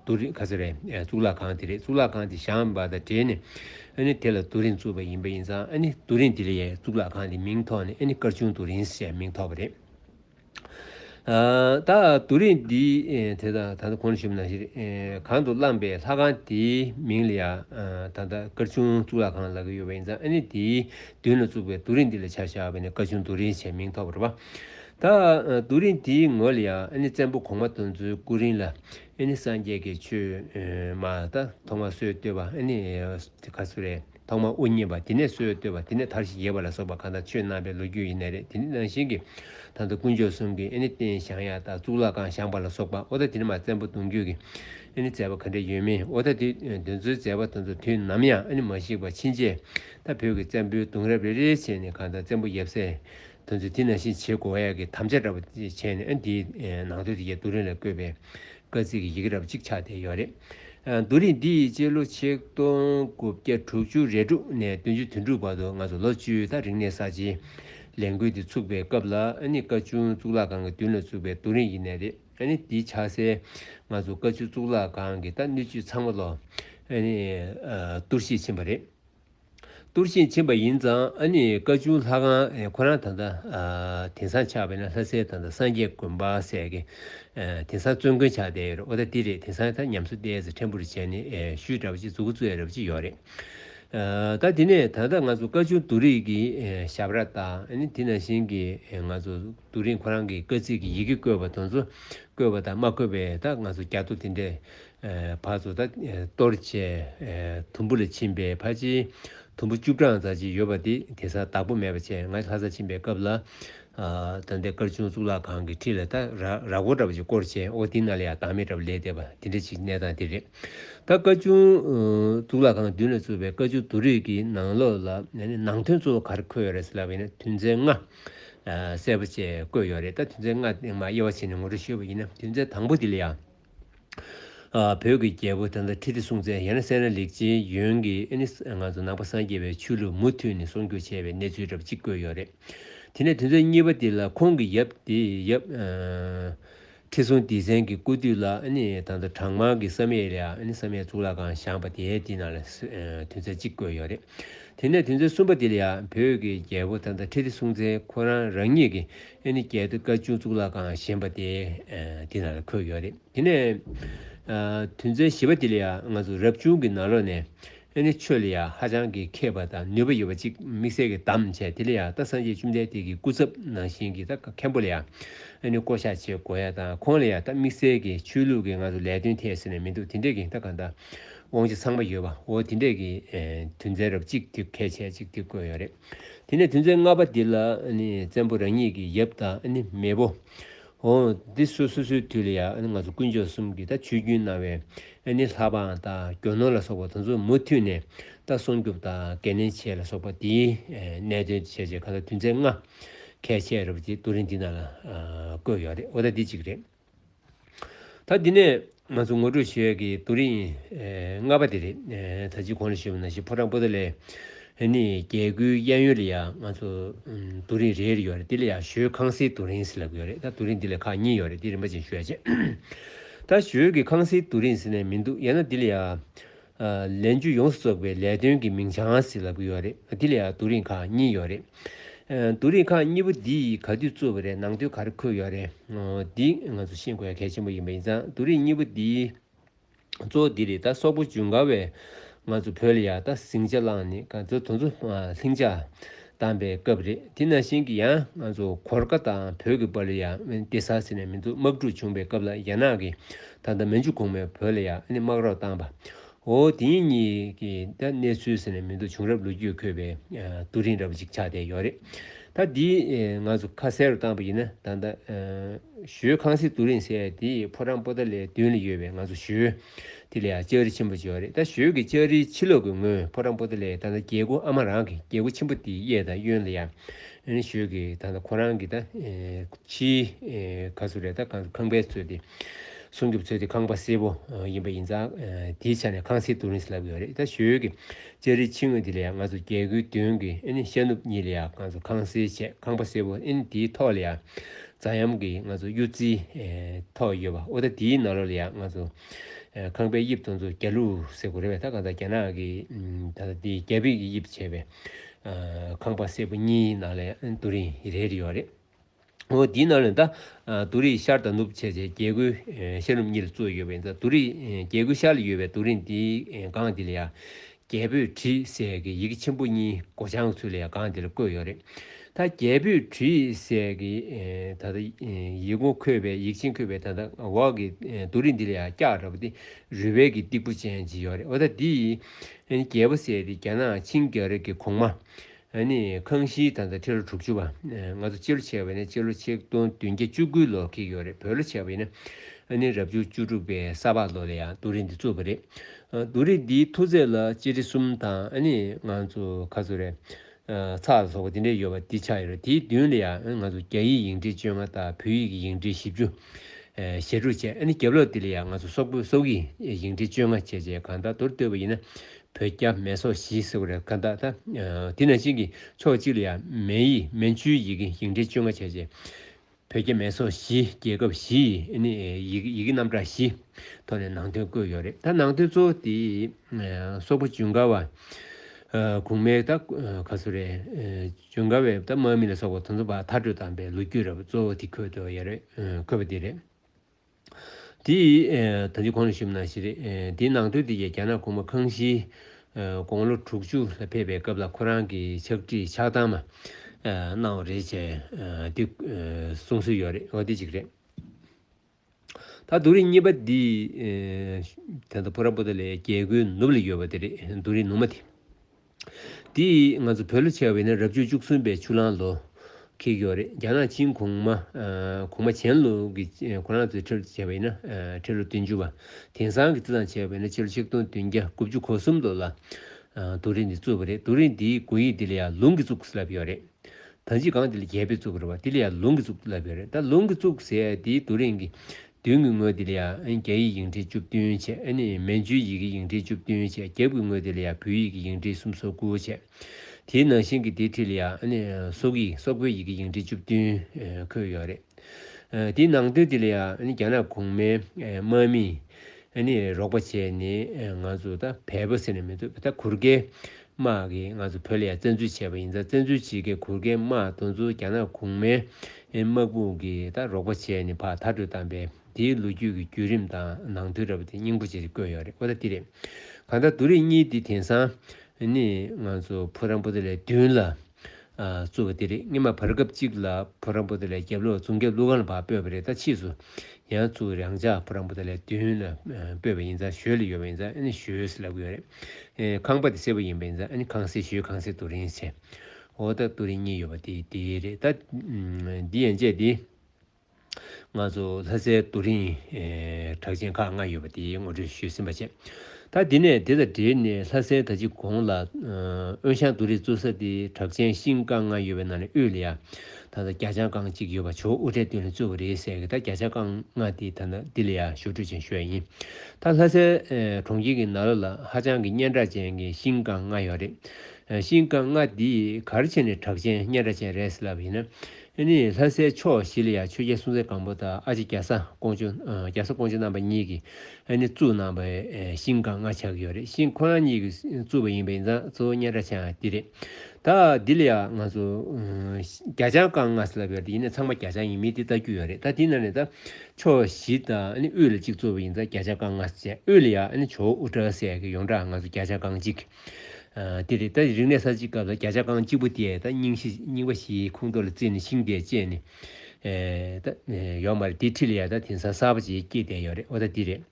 དུ་རིང་ཁ་ཟེར་བས་གཙུག་ལག་ཁང་དེ་རེད་གཙུག་ལག་ཁང་དེ་བཤམས་པ་དང་འབྲེལ་ནས་དེ་ལ་དུ་རིང་བཙུགས་པ་ཡིན་པ་ཡིན་ཙང་དུ་རིང་དེ་ལས་གཙུག་ལག་ཁང་དེའི་མིང་ཐོག་ནས་སྐར་ཆུང་དུ་རིང་ཞེས་མིང་ཐོགས་པ་རེད། ད་དུ་རིང་འདི་དེ་དང་ད་ལྟ་གོང་ནས་ཞུས་པ་ནང་བཞིན་གང་དུ་བླངས་པའི་ལྷ་ཁང་དེའི་མིང་ལ་ཡང་ད་ལྟ་སྐར་ཆུང་གཙུག་ལག་ཁང་ལག་གི་ཡོད་པ་ཡིན་ཙང་དེའི་མདུན་ལ་བཙུགས་པའི་དུ་རིང་དེ་ལ་བྱ་བཞག་པས་ནས་སྐར་ཆུང་དུ་རིང་ཞེས་མིང་ཐོགས་པར་རོ། ད་དུ་རིང་དེའི་ངོས་ལ་ཡང་བཙན་པོ་གོང་མ་དོན་གཙོའི་སྐུ་རིང་ལ་སངས་རྒྱས་ཀྱི་ཆོས་མ་ད་ཐོག་མ་སྲོལ་བཏོད་པ་ག་ཚོད་རེད་ཐོག་མ་དབུ་བརྙེས་པ་དེ་ནས་སྲོལ་བཏོད་པ་དེ་ནས་མཐར་ཞི་རྒྱས་པ་ལ་སོགས་པ་གང་དག་ཆོས་རྣམས་པའི་ལོ་རྒྱུས་ཡིན་ན་རེད་དེ་ནི་ནང་བཞིན་གྱི་ད་ལྟ་དཀོན་མཆོག་གསུམ་གྱི་རྟེན་བཞེངས་ཡ་ད་གཙུག་ལག་ཁང་བཞེངས་པ་ལ་སོགས་པ་འོ་ད་དེ་ནས་མ་བཙན་པོ་གདུང་རྒྱུད་ཀྱི་མཛད་པ་ག་འདྲའི་ཡོད་མིན་འོ་ད་དེ་དོན་གཙོའི་མཛད་པ་དོན་གཙོ་དུས་ནམ་ཡང་མ་བཤིག་པ་ཕྱིན་ཆད་ད་བོད་ཀྱི་བཙན་པོའི་གདུང་རབས་རེ་རེའི་ཆེད་ནས་གང་དག་བཙན་པོ་ཡབ་སྲས་དོན་ཚུལ་དེ་ནང་བཞིན་བྱེད་དགོས་ཨ་ཡ་གི་དམ་བཅའ་འདྲ་པོ་བྱས་ནས་ཨ་འདིའི་ནང་དོན་དེ་རྒྱ་བསྡུ་རིང་ལ་བཀོད་པའི་བཀའ་གཙིགས་ཀྱི་ཡི་གེ་འདྲ་པོ་གཅིག་ཆགས་བསྡད་ཡོད་རེད། བསྡུ་རིང་འདི་ཡི་སྤྱི་ལོ་ཆིག་སྟོང་དགུ་བརྒྱ་དྲུག་ཅུ་རེ་དྲུག་ནས་བདུན་ཅུ་དོན་དྲུག་བར་དུ་ང་ཚོ་ལོ་བཅུའི་ཐག་རིང་ནས་གསར་བརྗེའི་ལས་འགུལ་འདི་ཚུགས་པའི་སྐབས་ལ་ཨ་ནི་བཀའ་བྱུང་གཙུག་ལག་ཁང་གི་མདུན་ལ་བཙུགས་པའི་བསྡུ་རིང་ཡིན་ནས་རེད་ཨ་ནི་འདི་ཆགས་སའི་ང་ཚོ་བཀའ་བྱུང་གཙུག་ལག་ཁང་གི་ད་སྣོད་བཅུད་ཚང་མ་ལོ་བསྡུར་བྱེད་ཕྱིན་པ་རེད། གཏུར་བཞིན་ཕྱིན་པ་ཡིན་ཙང་ཨ་ནི་བཀའ་བྱུང་ལྷ་ཁང་ཁོ་རང་ད་ལྟ་དེང་སང་ཆགས་པའི་ན་ལྷ་སའི་ད་ལྟ་སངས་རྒྱས་དགོན་པ་ཟེར་གི་དེང་སང་བཙོན་དགོན་ཆགས་བསྡད་ཡོད་རེད་ཨོ་ད་འདི་རེད་དེང་སང་ད་ཉམས་གསོ་ལྟའི་ཟེར་ཕྲན་བུ་རེ་བྱས་ནས་ཤུལ་འདྲ་པོ་ཅིག་འཛུགས་གི་བཙོས་རེད་པ་ཅིག་ཡོད་རེད་ད་དེ་ནས་ད་ལྟ་ང་ཚོ་བཀའ་བྱུང་རྡོ་རིང་གི་ཞབས་ར་ད་ནི་དེ་ན་བཞིན་གི་ང་ཚོ་རྡོ་རིང་ཁོ་རང་གི་བཀའ་གཙིགས་ཀྱི་ཡི་གེ་བཀོད་པ་དང་ཚོ་བཀོད་པ་དང་མ་བཀོད་པའི་ད་ང་ཚོ་རྒྱ་ཐོ་དེ་འདྲས་བར་དུ་ད་གཏོར་བཅས་དུམ་བུ་ལ་ཕྱིན་པས་ཕ་ཅིའི་དུམ་བུ་བཅུ་གྲངས་རྩ་ཆེན་ཡོད་པ་དེ་དེ་སར་བདག་པོ་མེད་པ་བྱས་ང་ལྷ་སར་ཕྱིན་པའི་སྐབས་ལ། ད་ལྟའི་སྐར་ཆུང་གཙུག་ལག་ཁང་གི་ཁྲི་ལ་ད་ར་གོ་འདྲ་བ་ཅིག་བསྐོར་བྱས་ཨོ་དེ་ན་ལ་ཡག་དྭངས་མེད་འདྲ་བ་ལས་འདས་པ་དེ་འདྲ་ཞིག་གནས་སྟངས་དེ་རེད། ད་སྐར་ཆུང་གཙུག་ལག་ཁང་མདུན་ལ་བཙུགས་པའི་སྐར་ཆུང་དུ་རིགས་ཀྱི་ནང་ལོགས་ལ་ནང་དོན་གཙོ་བོ་ག་རེ་འཁོད་ཡོད་རེད་ཟེར་ལབ་ཡིན་ན་དུས་མཚན་ལྔ། གསལ་པོ་བཅས་བཀོད་ཡོད་རེད་ད་དུས་མཚན་ལྔ་སྟེང་མ་དབྱེ་བ་བྱས་ནས་ངོ་སྤྲོད་ཞུས་པ་ཡིན་ན་དུས་མཚན་དང་པོ་དེ་ལ་ཡག། བོད་ཀྱི་རྒྱལ་པོ་དང་ཐུགས་རྗེ་སྲུང་མཛད་ཡན་སེ་ར་ལེགས་ཅན་ཡོན་གྱི་ཨེ་ནི་ང་ཚོ་ནང་པ་སངས་རྒྱས་པའི་ཆོས་ལུགས་མུ་མཐུད་ནས་སྲུང་སྐྱོབ་བྱས་པའི་གནས་ཚུལ་རབ་གཅིག་བཀོད་ཡོད་རེད། དེ་ནས་དུས་ཚོད་གཉིས་པ་དེ་ལ་ཁོང་གི་ཡབ་དེ་ཡབ་ཁྲི་སྲོང་ལྡེ་བཙན་གྱི་སྐུ་དུས་ལ་ཨེ་ནི་དང་དུ་བྲག་དམར་གྱི་བསམ་ཡས་ལ་ཨེ་ནི་བསམ་ཡས་གཙུག་ལག་ཁང་བཞེངས་པ་དེ་དེ་ནང་ལ་དུས་ཚོད་གཅིག་བཀོད་ཡོད་རེད། དེ་ནས་དུས་ཚོད་གསུམ་པ་དེ་ལ་ཡང་བོད་ཀྱི་རྒྱལ་པོ་དང་ཐུགས་རྗེ་སྲུང་མཛད་ཁོ་རང་རང་ཉིད་ཀྱི་ཨེ་ནི་རྒྱལ་དུ་བཀའ་བཅུ་གཙུག་ལག་ཁང་བཞེངས་པ་དེ་དེ་ན་ལ་འཁོད་ཡོད་རེད་དེ་ནས་དུས་མཚན་བཞི་བ་དེ་ལ་ཡང་ང་ཚོ་རབ་བྱུང་གི་ནང་ལོགས་ནས་ཨེ་ནི་ཆོས་ལ་ཡང་ཧ་ཅང་གི་མཁས་པ་དང་ནུས་པ་ཡོད་པ་ཅིག་དམིགས་བསལ་གི་དམ་བཅས་དེ་ལ་ཡང་རྟ་སངས་རྒྱས་བཅུ་འདས་དེ་གི་སྐུ་ཚབ་ནང་བཞིན་གི་རྟ་མཁན་པོ་ལ་ཡང་ཨེ་ནི་བསྐོ་བཞག་བྱེད་དགོས་ཡ་དང་ཁོང་ལ་ཡང་རྟ་དམིགས་བསལ་གི་ཆོས་ལུགས་གི་ང་ཚོ་ལས་དོན་ཐད་ཟེར་ནས་མི་འདུག་དེ་འདྲས་གི་རྟ་གང་དང་དབང་ཆ་ཚང་མ་ཡོད་པ་འོ་དེ་འདྲས་གི་དུས་མཚན་རབ་གཅིག་དེ་གས་ཆད་ཅིག་དེ་བཀོད་ཡོད་རེད། དེ་ནས་དུས་མཚན་ལྔ་པ་འདི་ལ་ནི་བཙན་པོ་རང་ཉིད་ཀྱི་ཡབ་དང་ནི་མེས་པོ། ཧོ། འདི་སོ་སོ་སོའི་དུས་ལ་ཡང་ང་ཚོ་དཀོན་མཆོག་གསུམ་གྱིས་ད་ཆོས་རྒྱུན་གནང་བའི་ནི་ལྷ་འབངས་དང་རྒྱོ་ནོར་ལ་སོགས་པ་དང་ཚོ་མུ་མཐུད་ནས་ད་སྲུང་སྐྱོབ་དང་འགན་ལེན་བྱེད་ལ་སོགས་པ་འདིའི་གནད་དོན་བྱས་བྱས་ག་ད་དུས་མཚན་ལྔ་གས་བྱས་རབས་ཀྱི་རྡོ་རིང་འདི་ན་ལ་བཀོད་ཡོད་རེད་འོ་ད་འདི་གཅིག་རེད། ད་འདི་ནས་ང་ཚོ་ངོ་སྤྲོད་བྱེད་ཡས་ཀྱི་རྡོ་རིང་ལྔ་པ་དེ་རེད། ད་ཅིག་གོང་ལ་ཞུས་པ་ན་ཞིག་ཕོ་བྲང་པོ་ཏོ་ལས་ནི་རྒྱལ་སྒོའི་གཡས་གཡོན་ལ་ཡང་ང་ཚོ་རྡོ་རིང་རེ་རེ་ཡོད་རེད་དེ་ལ་ཡང་ཞོའི་ཁང་སིའི་རྡོ་རིང་ཟེར་ལབ་ཀྱི་ཡོད་རེད་ད་རྡོ་རིང་འདི་ལ་ཁག་གཉིས་ཡོད་རེད་དེ་རིན་པ་ཅན་ཞུ་ཡ་བྱས། ད་ཞོའི་གི་ཁང་སིའི་རྡོ་རིང་ཟེར་ནས་མི་འདུག་ཡང་ན་འདི་ལ་ཡང་ལས་འགྱུར་ཡོངས་སུ་རྫོགས་པའི་ལས་དོན་གྱི་མིང་བྱང་ཞིག་ལབ་གི་ཡོད་རེད་དེ་ལ་ཡང་དུག་རིགས་ཁག་གཉིས་ཡོད་རེད། དུག་རིགས་ཁག་གཉིས་པོ་འདི་ཡིས་ག་དུས་གཙོ་བོ་རེད་ནང་དུས་ག་རེ་འཁོད་ཡོད་རེད་འདི་ང་ཚོ་ཤེས་དགོས་ཡ་གལ་ཆེན་པོ་ཡིན་པ་ཡིན་ཙང་དུག་རིགས་གཉིས་པོ་འདི་གཙོ་བོ་འདི་རེད་ད་སོག་པོ་ཇུན་གར་བས་ང་ཚོ་བོད་ལ་ཡག་ད་ཟིང་ཆ་བླངས་ནས་ག་ཚོད་དོ་ཚོ་ལྷིང་འཇགས་བཏང་པའི་སྐབས་རེད་དེ་ན་ཤིང་གི་ཡང་ང་ཚོ་གོར་ཀ་དང་བོད་ཀྱི་པར་ལ་ཡང་དབེན་ཏེ་ཟ་ཟི་ནས་མི་འདུག་དམག་འཁྲུག་བྱུང་པའི་སྐབས་ལ་རྒྱ་ནག་གི་ད་ལྟ་མན་ཇུ་གོང་མའི་བོད་ལ་ཡང་དབེན་དམག་རོགས་བཏང་པ་འོ་དེ་གཉིས་ཀྱི་ད་གནས་ཚུལ་ཟེར་ནས་མི་འདུག་བྱུང་རབས་ལོ་རྒྱུས་འཁོད་པའི་ཏུ་རིན་རབ་ཅིག་ཆགས་བསྡད་ཡོད་རེད་ད་འདི་ང་ཚོ་ཁ་གསལ་རུ་བཏང་པ་ཡིན་ན་ད་ད་ཞོའི་ཁང་སིལ་ཏུ་རིན་སེ་དེ་ཕོ་བྲང་པོ་ཏཱ་ལའི་མདུན་ལ་ཡོད་པའི་ང་ཚོ་ཞོའི། དེ་ལས་ཡང་ལྕགས་རི་ཆེན་པོ་འབྱོར་རེད་ད་ཞོལ་གྱི་ལྕགས་རིའི་ཕྱི་ལོགས་ཀྱི་ངོས་ཕོ་བྲང་པོ་ཏི་ལས་ད་ལྟ་རྒྱལ་སྒོ་ཨ་མ་རང་གི་རྒྱལ་སྒོ་ཆེན་པོ་དེའི་གཡས་དང་གཡོན་ལ་ཡང་ནི་ཞོལ་གྱི་ད་ལྟ་ཁོ་རང་གི་ད་ཕྱིའི་ག་ཚོད་རེད་ད་གང་ཚོད་ཁང་པའི་ཚོད་དེ་སྲུང་སྐྱོབ་ཚོད་དེ་ཁང་པ་སེར་པོ་ཡིན་པ་ཡིན་ཙང་དེའི་ཆ་ནས་ཁང་སེར་དུ་རིང་སླ་བོ་ཡོད་རེད་ད་ཞོལ་གྱི་ལྕགས་རིའི་ཕྱི་ངོས་དེ་ལ་ཡང་ང་ཚོ་རྒྱལ་སྒོའི་མདུན་གྱི་ཨེ་ནི་ཤར་ནུབ་གཉིས་ལ་ཡང་གང་ཚོད་ཁང་སེར་ཆེ་ཁང་པ་སེར་པོ་ཨེ་ནི་དེའི་ཐོག་ལ་ཡང་རྫ་གཡམ་གྱི་ང་ཚོ་གཡུ་རྩིའི་ཐོག་ཡོད་པ་ཨོ་ད་དེའི་ནང་ལོ་ལ་ཡང་ང་ཚོ་ཁང་པའི་དབྱིབས་སྟོང་ཚོ་རྒྱ་ལུག་སེར་པོ་རེད་བས་ད་གང་ཟག་རྒྱ་ནག་གི་ད་ལྟ་དེ་རྒྱ་བིས་ཀྱི་དབྱིབས་བྱས་པའི་ཁང་པ་སེར་པོ་གཉིས་ནང་ལས་དུ་རིང་རེ་རེ་ཡོད་བ་རེད། ཨོ་དེའི་ནང་ལས་ད་དུ་རིང་ཤར་དང་ནུབ་བྱས་བྱས་རྒྱལ་སྒོའི་ཤར་ནུབ་གཉིས་ལ་བཙུགས་ཡོད་བས་ད་དུ་རིང་རྒྱལ་སྒོའི་ཤར་ལ་ཡོད་བའི་དུ་རིང་དེའི་སྒང་དེ་ལ་ཡང་རྒྱལ་པོས་དྲི་ཟས་ཀྱི་ཡི་གེ་ཆེན་པོ་གཉིས་སྒོ་བྱང་ཚུལ་ལས་སྒང་འདིར་བཀོད་ཡོད་རེད། ད་རྒྱལ་པོས་དྲི་ཟས་ཀྱི་ད་ལྟ་ཡིག་ངོ་འཁོད་པའི་ཡིག་ཆེན་འཁོད་པའི་ད་ལྟ་འོག་གི་རྡོ་རིང་འདི་ལ་ཡང་སྐྱག་འདྲ་པོ་སྟེ་རུས་སྦལ་གྱི་སྟེགས་བུ་ཅན་ཅིག་ཡོད་རེད་འོ་ད་འདི་ཡི་རྒྱལ་པོ་ཟེར་ཏེ་རྒྱ་ནག་ཆིང་རྒྱལ་རབས་ཀྱི་གོང་མ། ཨ་ནི་ཁང་ཤིའི་ད་ལྟ་ཁྲི་ལོ་དྲུག་ཅུ་བ། ང་ཚོ་སྤྱི་ལོ་ཆེ་བས་ནི་སྤྱི་ལོ་ཆིག་སྟོང་བདུན་བརྒྱ་བཅུ་དགུའི་ལོར་ཁེལ་ཡོད་རེད་བོད་ལོ་ཆེ་བས་ནི་ཨ་ནི་རབ་བྱུང་བཅུ་དྲུག་པའི་ས་ཕག་ལོ་ལ་ཡང་རྡོ་རིང་འདི་བཙུགས་པ་རེད། རྡོ་རིང་འདིའི་མཐོ་ཚད་ལ་སྤྱི་ཁྲི་གསུམ་དང་ཨ་ནི་ང་ཚོ་ཁ་ཚུར་རེ། ཚག་ལ་སོགས་པ་འདི་འདྲའི་ཡོད་པ་འདི་ཆགས་ཡོད་རེད་དེའི་མདུན་ལ་ཡང་ང་ཚོ་རྒྱ་ཡིག་ཡིག་འབྲི་བཅོ་ལྔ་དང་བོད་ཡིག་གི་ཡིག་འབྲི་བཞི་བཅུ། ཞེ་དྲུག་བྱས་ཨ་ནི་རྒྱབ་ལོགས་འདི་ལ་ཡང་ང་ཚོ་སོག་པོའི་སོག་ཡིག་ཡིག་འབྲི་བཅོ་ལྔ་བྱས་བྱས་གང་དག་མདོར་བསྡོད་པ་ཡིན་ན་བོད་རྒྱ་མེ་སོག་བཞི་ཟེར་བ་རེད་ག་ད། དེ་ནང་བཞིན་གྱི་ཕྱོགས་གཅིག་ལ་ཡང་མན་ཡིག་མན་ཇུའི་ཡི་གེ་ཞིང་བྲན་བཅོ་ལྔ་བྱས་རྗེས། བོད་རྒྱ་མེ་སོག་བཞི་རྒྱལ་ཁབ་བཞི་ཡི་གེ་ཡི་གེ་རྣམ་གྲངས་བཞི་ཐོག་ནས་ནང་དོན་བཀོད་ཡོད་རེད་ད་ནང་དོན་གཙོ་བོ་དེ་སོག་པོ་ཇུན་གར་བ་གུང་མའི་ད་ག་སུ་རེད་ཇུན་གར་བའི་ད་དམག་མི་ལ་སོག་པ་དོན་ཚོ་བ་མཐར་སྤྲོད་དམ་པའི་ལོ་རྒྱུས་ར་བ་གཙོ་བོ་དེ་འཁོད་འདོད་ཡ་རེད་འཁོད་པ་དེ་རེད། དེ་ཡིས་ད་ཅི་གང་ལ་ཞུམ་ན་ཞེས་རེད། དེའི་ནང་དོན་དེ་ཡིས་རྒྱ་ནག་གུང་མ་ཁང་ཤིའི་དགོང་ལོ་དྲུག་ཅུ་ལ་ཕེབས་པའི་སྐབས་ལ་ཁོ་རང་གི་ཕྱག་བྲིས་ཕྱག་བཏང་མ་གནང་བ་རེད་ཅེས་དེ་གསུང་སྲོལ་ཡོད་རེད་འོ་དེ་གཅིག་རེད། ད་བསྡུ་རིས་གཉིས་པ་འདི་དེ་ད་བུ་ར་པོ་ཏཱ་ལའི་རྒྱལ་སྒོའི་ནུབ་ལ་ཡོད་པ་དེ་རེད་བསྡུ་རིས་ནུབ་མ་དེ། དེ་ཡིས་ང་ཚོ་བོད་ལོ་ཆེ་བ་ཡིན་ན་རབས་བྱུས་བཅུ་གསུམ་པའི་ཆུ་གླང་ལོ། ཁེལ་གི་ཡོད་རེད་རྒྱ་ནག་ཆིན་གོང་མ། གོང་མ་ཆན་ལུ་གི་གོ་ལང་ཚོའི་ཁྲི་ལོ་བྱས་པ་ཡིན་ན་ཁྲི་ལོ་བདུན་ཅུ་བ། དེང་སང་གི་ཙི་ཙང་བྱས་པ་ཡིན་ན་ཕྱི་ལོ་ཆིག་སྟོང་བདུན་བརྒྱ་དགུ་བཅུ་གོ་གསུམ་ལོ་ལ། དུག་རིགས་འདི་བཙུགས་པ་རེད་དུག་རིགས་འདིའི་དགོས་ཡིག་འདི་ལ་ཡང་ལུང་གིས་བཙུགས་ལབ་ཡོད་རེད། ད་ཅི་སྒང་འདི་ལ་རྒྱལ་པོས་བཙུགས་པ་རེད་བ་འདི་ལ་ཡང་ལུང་གིས་བཙུགས་ལབ་ཡོད་རེད་ད་ལུང་གིས་བཙུགས་ཟེར་དེའི་དུག་རིགས་འགི་བདུན་གྱི་ངོས་དེ་ལ་ཡང་རྒྱ་ཡིག་ཡིག་འབྲེལ་བཅུ་བདུན་བྱས། མན་ཇུའི་ཡི་གེ་ཡིག་འབྲེལ་བཅུ་བདུན་བྱས། རྒྱབ་ཀྱི་ངོས་དེ་ལ་ཡང་བོད་ཡིག་གི་ཡིག་འབྲེལ་སུམ་སོ་དགུ་བྱས། དེའི་ནང་བཞིན་གྱི་དེའི་ཁྲི་ལ་ཡང། སོག་ཡིག་སོག་པོའི་ཡི་གེ་ཡིག་འབྲེལ་བཅུ་བདུན་འཁོད་ཡོད་རེད། དེའི་ནང་དོན་དེ་ལ་ཡང་རྒྱ་ནག་གོང་མའི་དམག་མིས་རོགས་པ་བྱས་ནས་ང་ཚོ་ད་བལ་པོ་ཟེར་ནས་མི་འདུག་ད་གུར་གེ་དམག་གིས་ང་ཚོ་བོད་ལ་ཡང་བཙན་འཛུལ་བྱས་པ་ཡིན་ཙང་བཙན་འཛུལ་བྱེད་མཁན་གུར་མཁན་དམག་དོན་གཙོ་བོ་རྒྱ་ནག་གུང་མའི་དམག་དཔུང་གིས་ད་རོགས་པ་བྱས་ནས་ཕག་མཐའ་སྤྲོད་བཏང་པས་དེའི་ལོ་རྒྱུས་ཀྱི་བརྒྱུད་རིམ་དང་ནང་དོན་ར་བ་དེ་སྙིང་པོ་ཅིག་བཀོད་ཡོད་རེད་ཨོ་ད་འདི་རེད་གང་ལྟར་དུ་རིགས་གཉིས་འདི་དེང་སང་ནི་ང་ཚོ་བུ་རམ་པོ་ཏི་ལས་བདུན་ལ། གཙོ་བོ་དེ་རེད་སྔོན་མ་བར་སྐབས་ཅིག་ལ་བུ་རམ་པོ་ཏི་ལས་རྒྱབ་ལོག་རྫོང་རྒྱབ་ཀླུ་ཁང་ལ་བག་སྤོས་པ་རེད་ད་ཕྱིས་སུ་ཡང་གཙོ་བོ་རང་ཅག་བུ་རམ་པོ་ཏི་ལས་མདུན་ལ་སྤོས་པ་ཡིན་ཙང་ཞོལ་ལ་ཡོད་པ་ཡིན་ཙང་ཨ་ནི་ཞོལ་ལབ་གི་ཡོད་རེད་ཁང་པ་དེ་སེར་པོ་ཡིན་པ་ཡིན་ཙང་ཨ་ནི་ཁང་སེར་ཞོལ་ཁང་སེར་ཏུ་རིང་ཆེ་འོ་ད་ཏུ་རིང་གཉིས་ཡོད་པ་དེ་དེ་རེད་ད་འདི་ཡན་ཆད་འདི། ལྔ་ཚོ་ལྷ་སའི་རྡོ་རིང། གྲགས་ཅན་ཁག་ལྔ་ཡོད་པ་དེའི་ངོ་སྤྲོད་ཞུས་ཟིན་པ་བཅས། ད་འདི་ནས་དེ་དང་འབྲེལ་ནས་ལྷ་སའི་ད་ཅི་གོང་ལ། དབོན་ཞང་རྡོ་རིང་གཙོས་ས་དེའི་གྲགས་ཅན་ཤིང་རྐང་ལྔ་ཡོད་པའི་ནང་ནས་དབུས་ལ་ཡ། ད་ལྟ་རྒྱ་ལྕང་རྐང་གཅིག་ཡོད་པ་ཇོ་དབུ་ཁྲལ་དོན་ལས་གཙོས་པ་རེད་ཟེར་གི་ད་རྒྱ་ལྕང་རྐང་ལྔ་དེ་ད་འདི་ལ་ཡ་ཞོར་འཕྲོད་ཅན་ཞུ་ཡ་ཡིན། ད་ལྷ་སའི་གྲོང་ཁྱེར་གྱི་ན་ལོ་ལ་ཧ་ཅང་གི་སྙན་གྲགས་ཅན་གྱི་ཤིང་རྐང་ལྔ་ཡོད་རེད། ཤིང་རྐང་ལྔ་དེ་གར་ཕྱེ་ནས་གྲགས་ཅན་སྙན་གྲགས་ཅན་རེད་ཟེར་ལབ་ཡིན་ན། ཨེ་ནི་ལྷ་སའི་ཕྱོགས་བཞི་ལ་ཡང་ཆོས་རྒྱལ་སྲུང་བཙན་སྒམ་པོ་དང་ཨ་ཅེ་རྒྱ་བཟའ་ཀོང་ཇོ་རྒྱ་བཟའ་ཀོང་ཇོ་རྣམ་པ་གཉིས་ཀྱིས་ཨེ་ནི་བཙུགས་གནང་བའི་ཤིང་སྒང་ལྔ་ཆགས་ཀྱི་ཡོད་རེད་ཤིང་ཁོ་རང་གཉིས་ཀྱིས་བཙུགས་པ་ཡིན་པའི་མཛངས་གཙོ་བོ་སྙན་གྲགས་ཆེ་ཡང་དེ་རེད། ད་འདི་ལ་ཡང་ང་ཚོ་རྒྱ་ལྕང་སྒང་ལྔ་ཟེར་ལབ་ཡོད་རེད་ཡིན་ན་ཚང་མ་རྒྱ་ལྕང་ཡིན་མིན་དེ་ལྟ་རྒྱུ་ཡོད་རེད་ད་དེའི་ནང་ནས་ད་ཕྱོགས་བཞི་དང་ཨེ་ནི་དབུས་ལ་གཅིག་གཙོ་བོ་ཡིན་ད་རྒྱ་ལྕང་སྒང་ལྔ་བཅས་དབུས་ལ་ཡང་ཨེ་ནི་ཇོ་བོ་དབུ་སྐྲ་སེ་ཡ་གི་ཡོངས་གྲགས་ང་ཚོ་རྒྱ་ལྕང་སྒང་གཅིག། དེ་རེད་ད་རིག་གནས་ས་ཅིག་སྐབས་ལ་བརྒྱ་ཆ་རྐང་གཅིག་པོ་དེ་ད་རྙིང་བཞི་རྙིང་པ་བཞིའི་ཁུངས་གཏོར་ལ་བརྩིས་ནས་ཤིང་དེ་བཅད་ནས་ད་ཡོག་མ་རེད་དེ་ཁྲི་ལ་ཡ་ད་དེང་སང་གསར་པ་ཅིག་སྐྱེས་བསྡད་ཡོག་རེད་འོ་ད་དེ་རེད།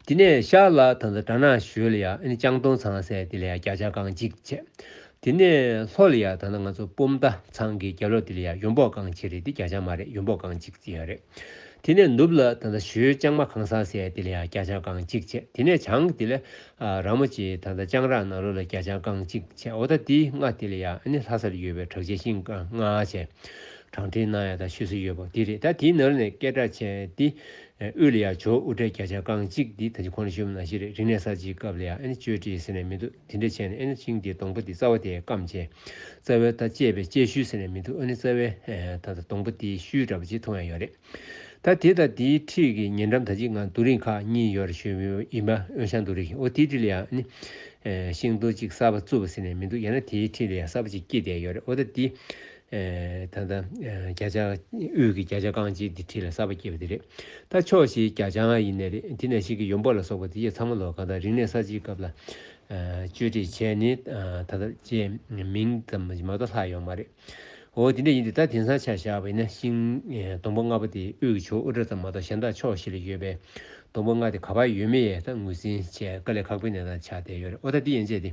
དེ་ནས་ཤར་ལ་ད་ད་བྲ་ནག་ཞོལ་ལ་ཡ་ཨནི་སྤྱང་སྟོང་ཚང་ཟས་དེ་ལ་ཡ་བརྒྱ་ཆ་རྐང་གཅིག་བཅད། དེ་ནས་ལྷོ་ལ་ཡ་ད་ང་ཚོ་སྤོམ་རྟ་ཚང་གི་རྒྱ་ལོ་དེ་ལ་ཡ་ཡོམ་འབོག་རྐང་ཕྱེད་རེད་དེ་བརྒྱ་ཆ་མ་རེད་ཡོམ་འབོག་རྐང་གཅིག་བརྩིས་ཡོག་རེད། དེ་ནས་ནུབ་ལ་ད་ལྟ་ཞོའི་ལྕང་མ་གང་ཟག་སའི་དེ་ལ་ཡང་རྒྱ་ལྕང་རྐང་གཅིག་བྱས་དེ་ནས་བྱང་གི་དེ་ལ་ར་མོ་ཆེའི་ད་ལྟ་ལྕང་རག་ནང་རོལ་ལ་རྒྱ་ལྕང་རྐང་གཅིག་བྱས་འོ་ད་དེའི་སྔ་དེ་ལ་ཡང་ནི་ལྷ་སར་ཡོད་པའི་བྲག་ཆའི་ཤིང་རྐང་ལྔ་བྱས་བྲང་ཁྲི་ནང་ཡང་ད་ཤོད་སྲིད་ཡོད་པོ་དེ་རེད་ད་དེའི་ནང་རོལ་ནས་སྐད་སྒྲ་ཆེ་དེ་དབུས་ལ་ཡང་ཇོ་དབུ་སྐྲའི་རྒྱ་ལྕང་རྐང་གཅིག་དེ་ད་ཇི་ཁོ་ན་ཤོད་མི་ནང་ཤི་རེད་རིང་ནས་ས་གཅིག་སྐབས་ལ་ཡང་ནི་གཅོད་བྲེག་ཟེར་ནས་མི་འདུག། དེ་འདྲའི་ཆས་ནི་ཨེ་ནི་ཅིང་དེའི་སྡོང་པོ་དེའི་རྩ་བ་དེ་སྐམ་བྱས། རྩ་བའི་མཐའ་བཅད་པས་བཅད་ཤུལ་ཟེར་ནས་མི་འདུག་ཨ་ནི་རྩ་བའི་མཐའ་དང་སྡོང་པོ་དེའི་ཤུལ་འདྲ་པོ་ཅིག་མཐོང་ཡང་ཡོད་རེད། ད་དེ་དང་དེའི་འཁྲིས་ཀྱི་ཉེ་འགྲམ་དང་གཅིག་ང་རྡོ་རིང་ཁག་གཉིས་ཡོད་རེ་ཞུ་ཡིན་པ་ཨོ་ཤང་རྡོ་རིང་ཞིག་ཨོ་དེའི་འཁྲིས་ལ་ཡང་ཨ་ནི། ཤིང་རྡོ་གཅིག་གསར་པ་བཙུགས་པ་ཟེར་ནས་མི་འདུག་ཡང་ན་དེའི་འཁྲིས་ལ་ཡང་གསར་པ་ཅིག་སྐྱེས་བསྡད་ཡོད་རེད་ཨོ་ད་དེ། ད་ལྟ་བརྒྱ་ཆ་དབུས་ཀྱི་བརྒྱ་ཆ་རྐང་གཅིག་འདི་ཁྲིད་ལ་གསར་པ་སྐྱེས་པ་དེ་རེད། ད་ཕྱོགས་བཞིའི་བརྒྱ་ཆ་ལྔ་ཡིན་ནི་རེད་དེ་ནས་ཤིག་གིས་ཡོམ་འབོག་ལ་སོགས་པ་དེ་བཞི་ཚང་མ་ལོ་གང་དང་རིག་གནས་གསར་བརྗེའི་སྐབས་ལ་བཅོས་སྒྲིག་བྱས་ནི་ད་ལྟ་བཅས་མིང་ཙམ་མ་གཏོགས་ལྷག་ཡོང་མ་རེད། འོ་དེ་འདྲ་ཡིན་དུས་ད་དེང་སང་ཆ་བཞག་པ་ཡིན་ན་ཤིང་སྡོང་པོ་ལྔ་པོ་དེ་དབུས་ཀྱི་ཕྱོགས་དབུ་སྐྲ་ཙམ་མ་གཏོགས་གཞན་དག་ཕྱོགས་བཞི་ལ་ཡོད་པའི་སྡོང་པོ་ལྔ་དེ་ག་པར་ཡོད་མེད་ཡང་ངོས་འཛིན་བྱས་དཀའ་ལས་ཁག་པོའི་གནས་སྟངས་ཆགས་བསྡད་ཡོད་རེད་འོ་ད་འདི་ཡན་ཆད་དེ།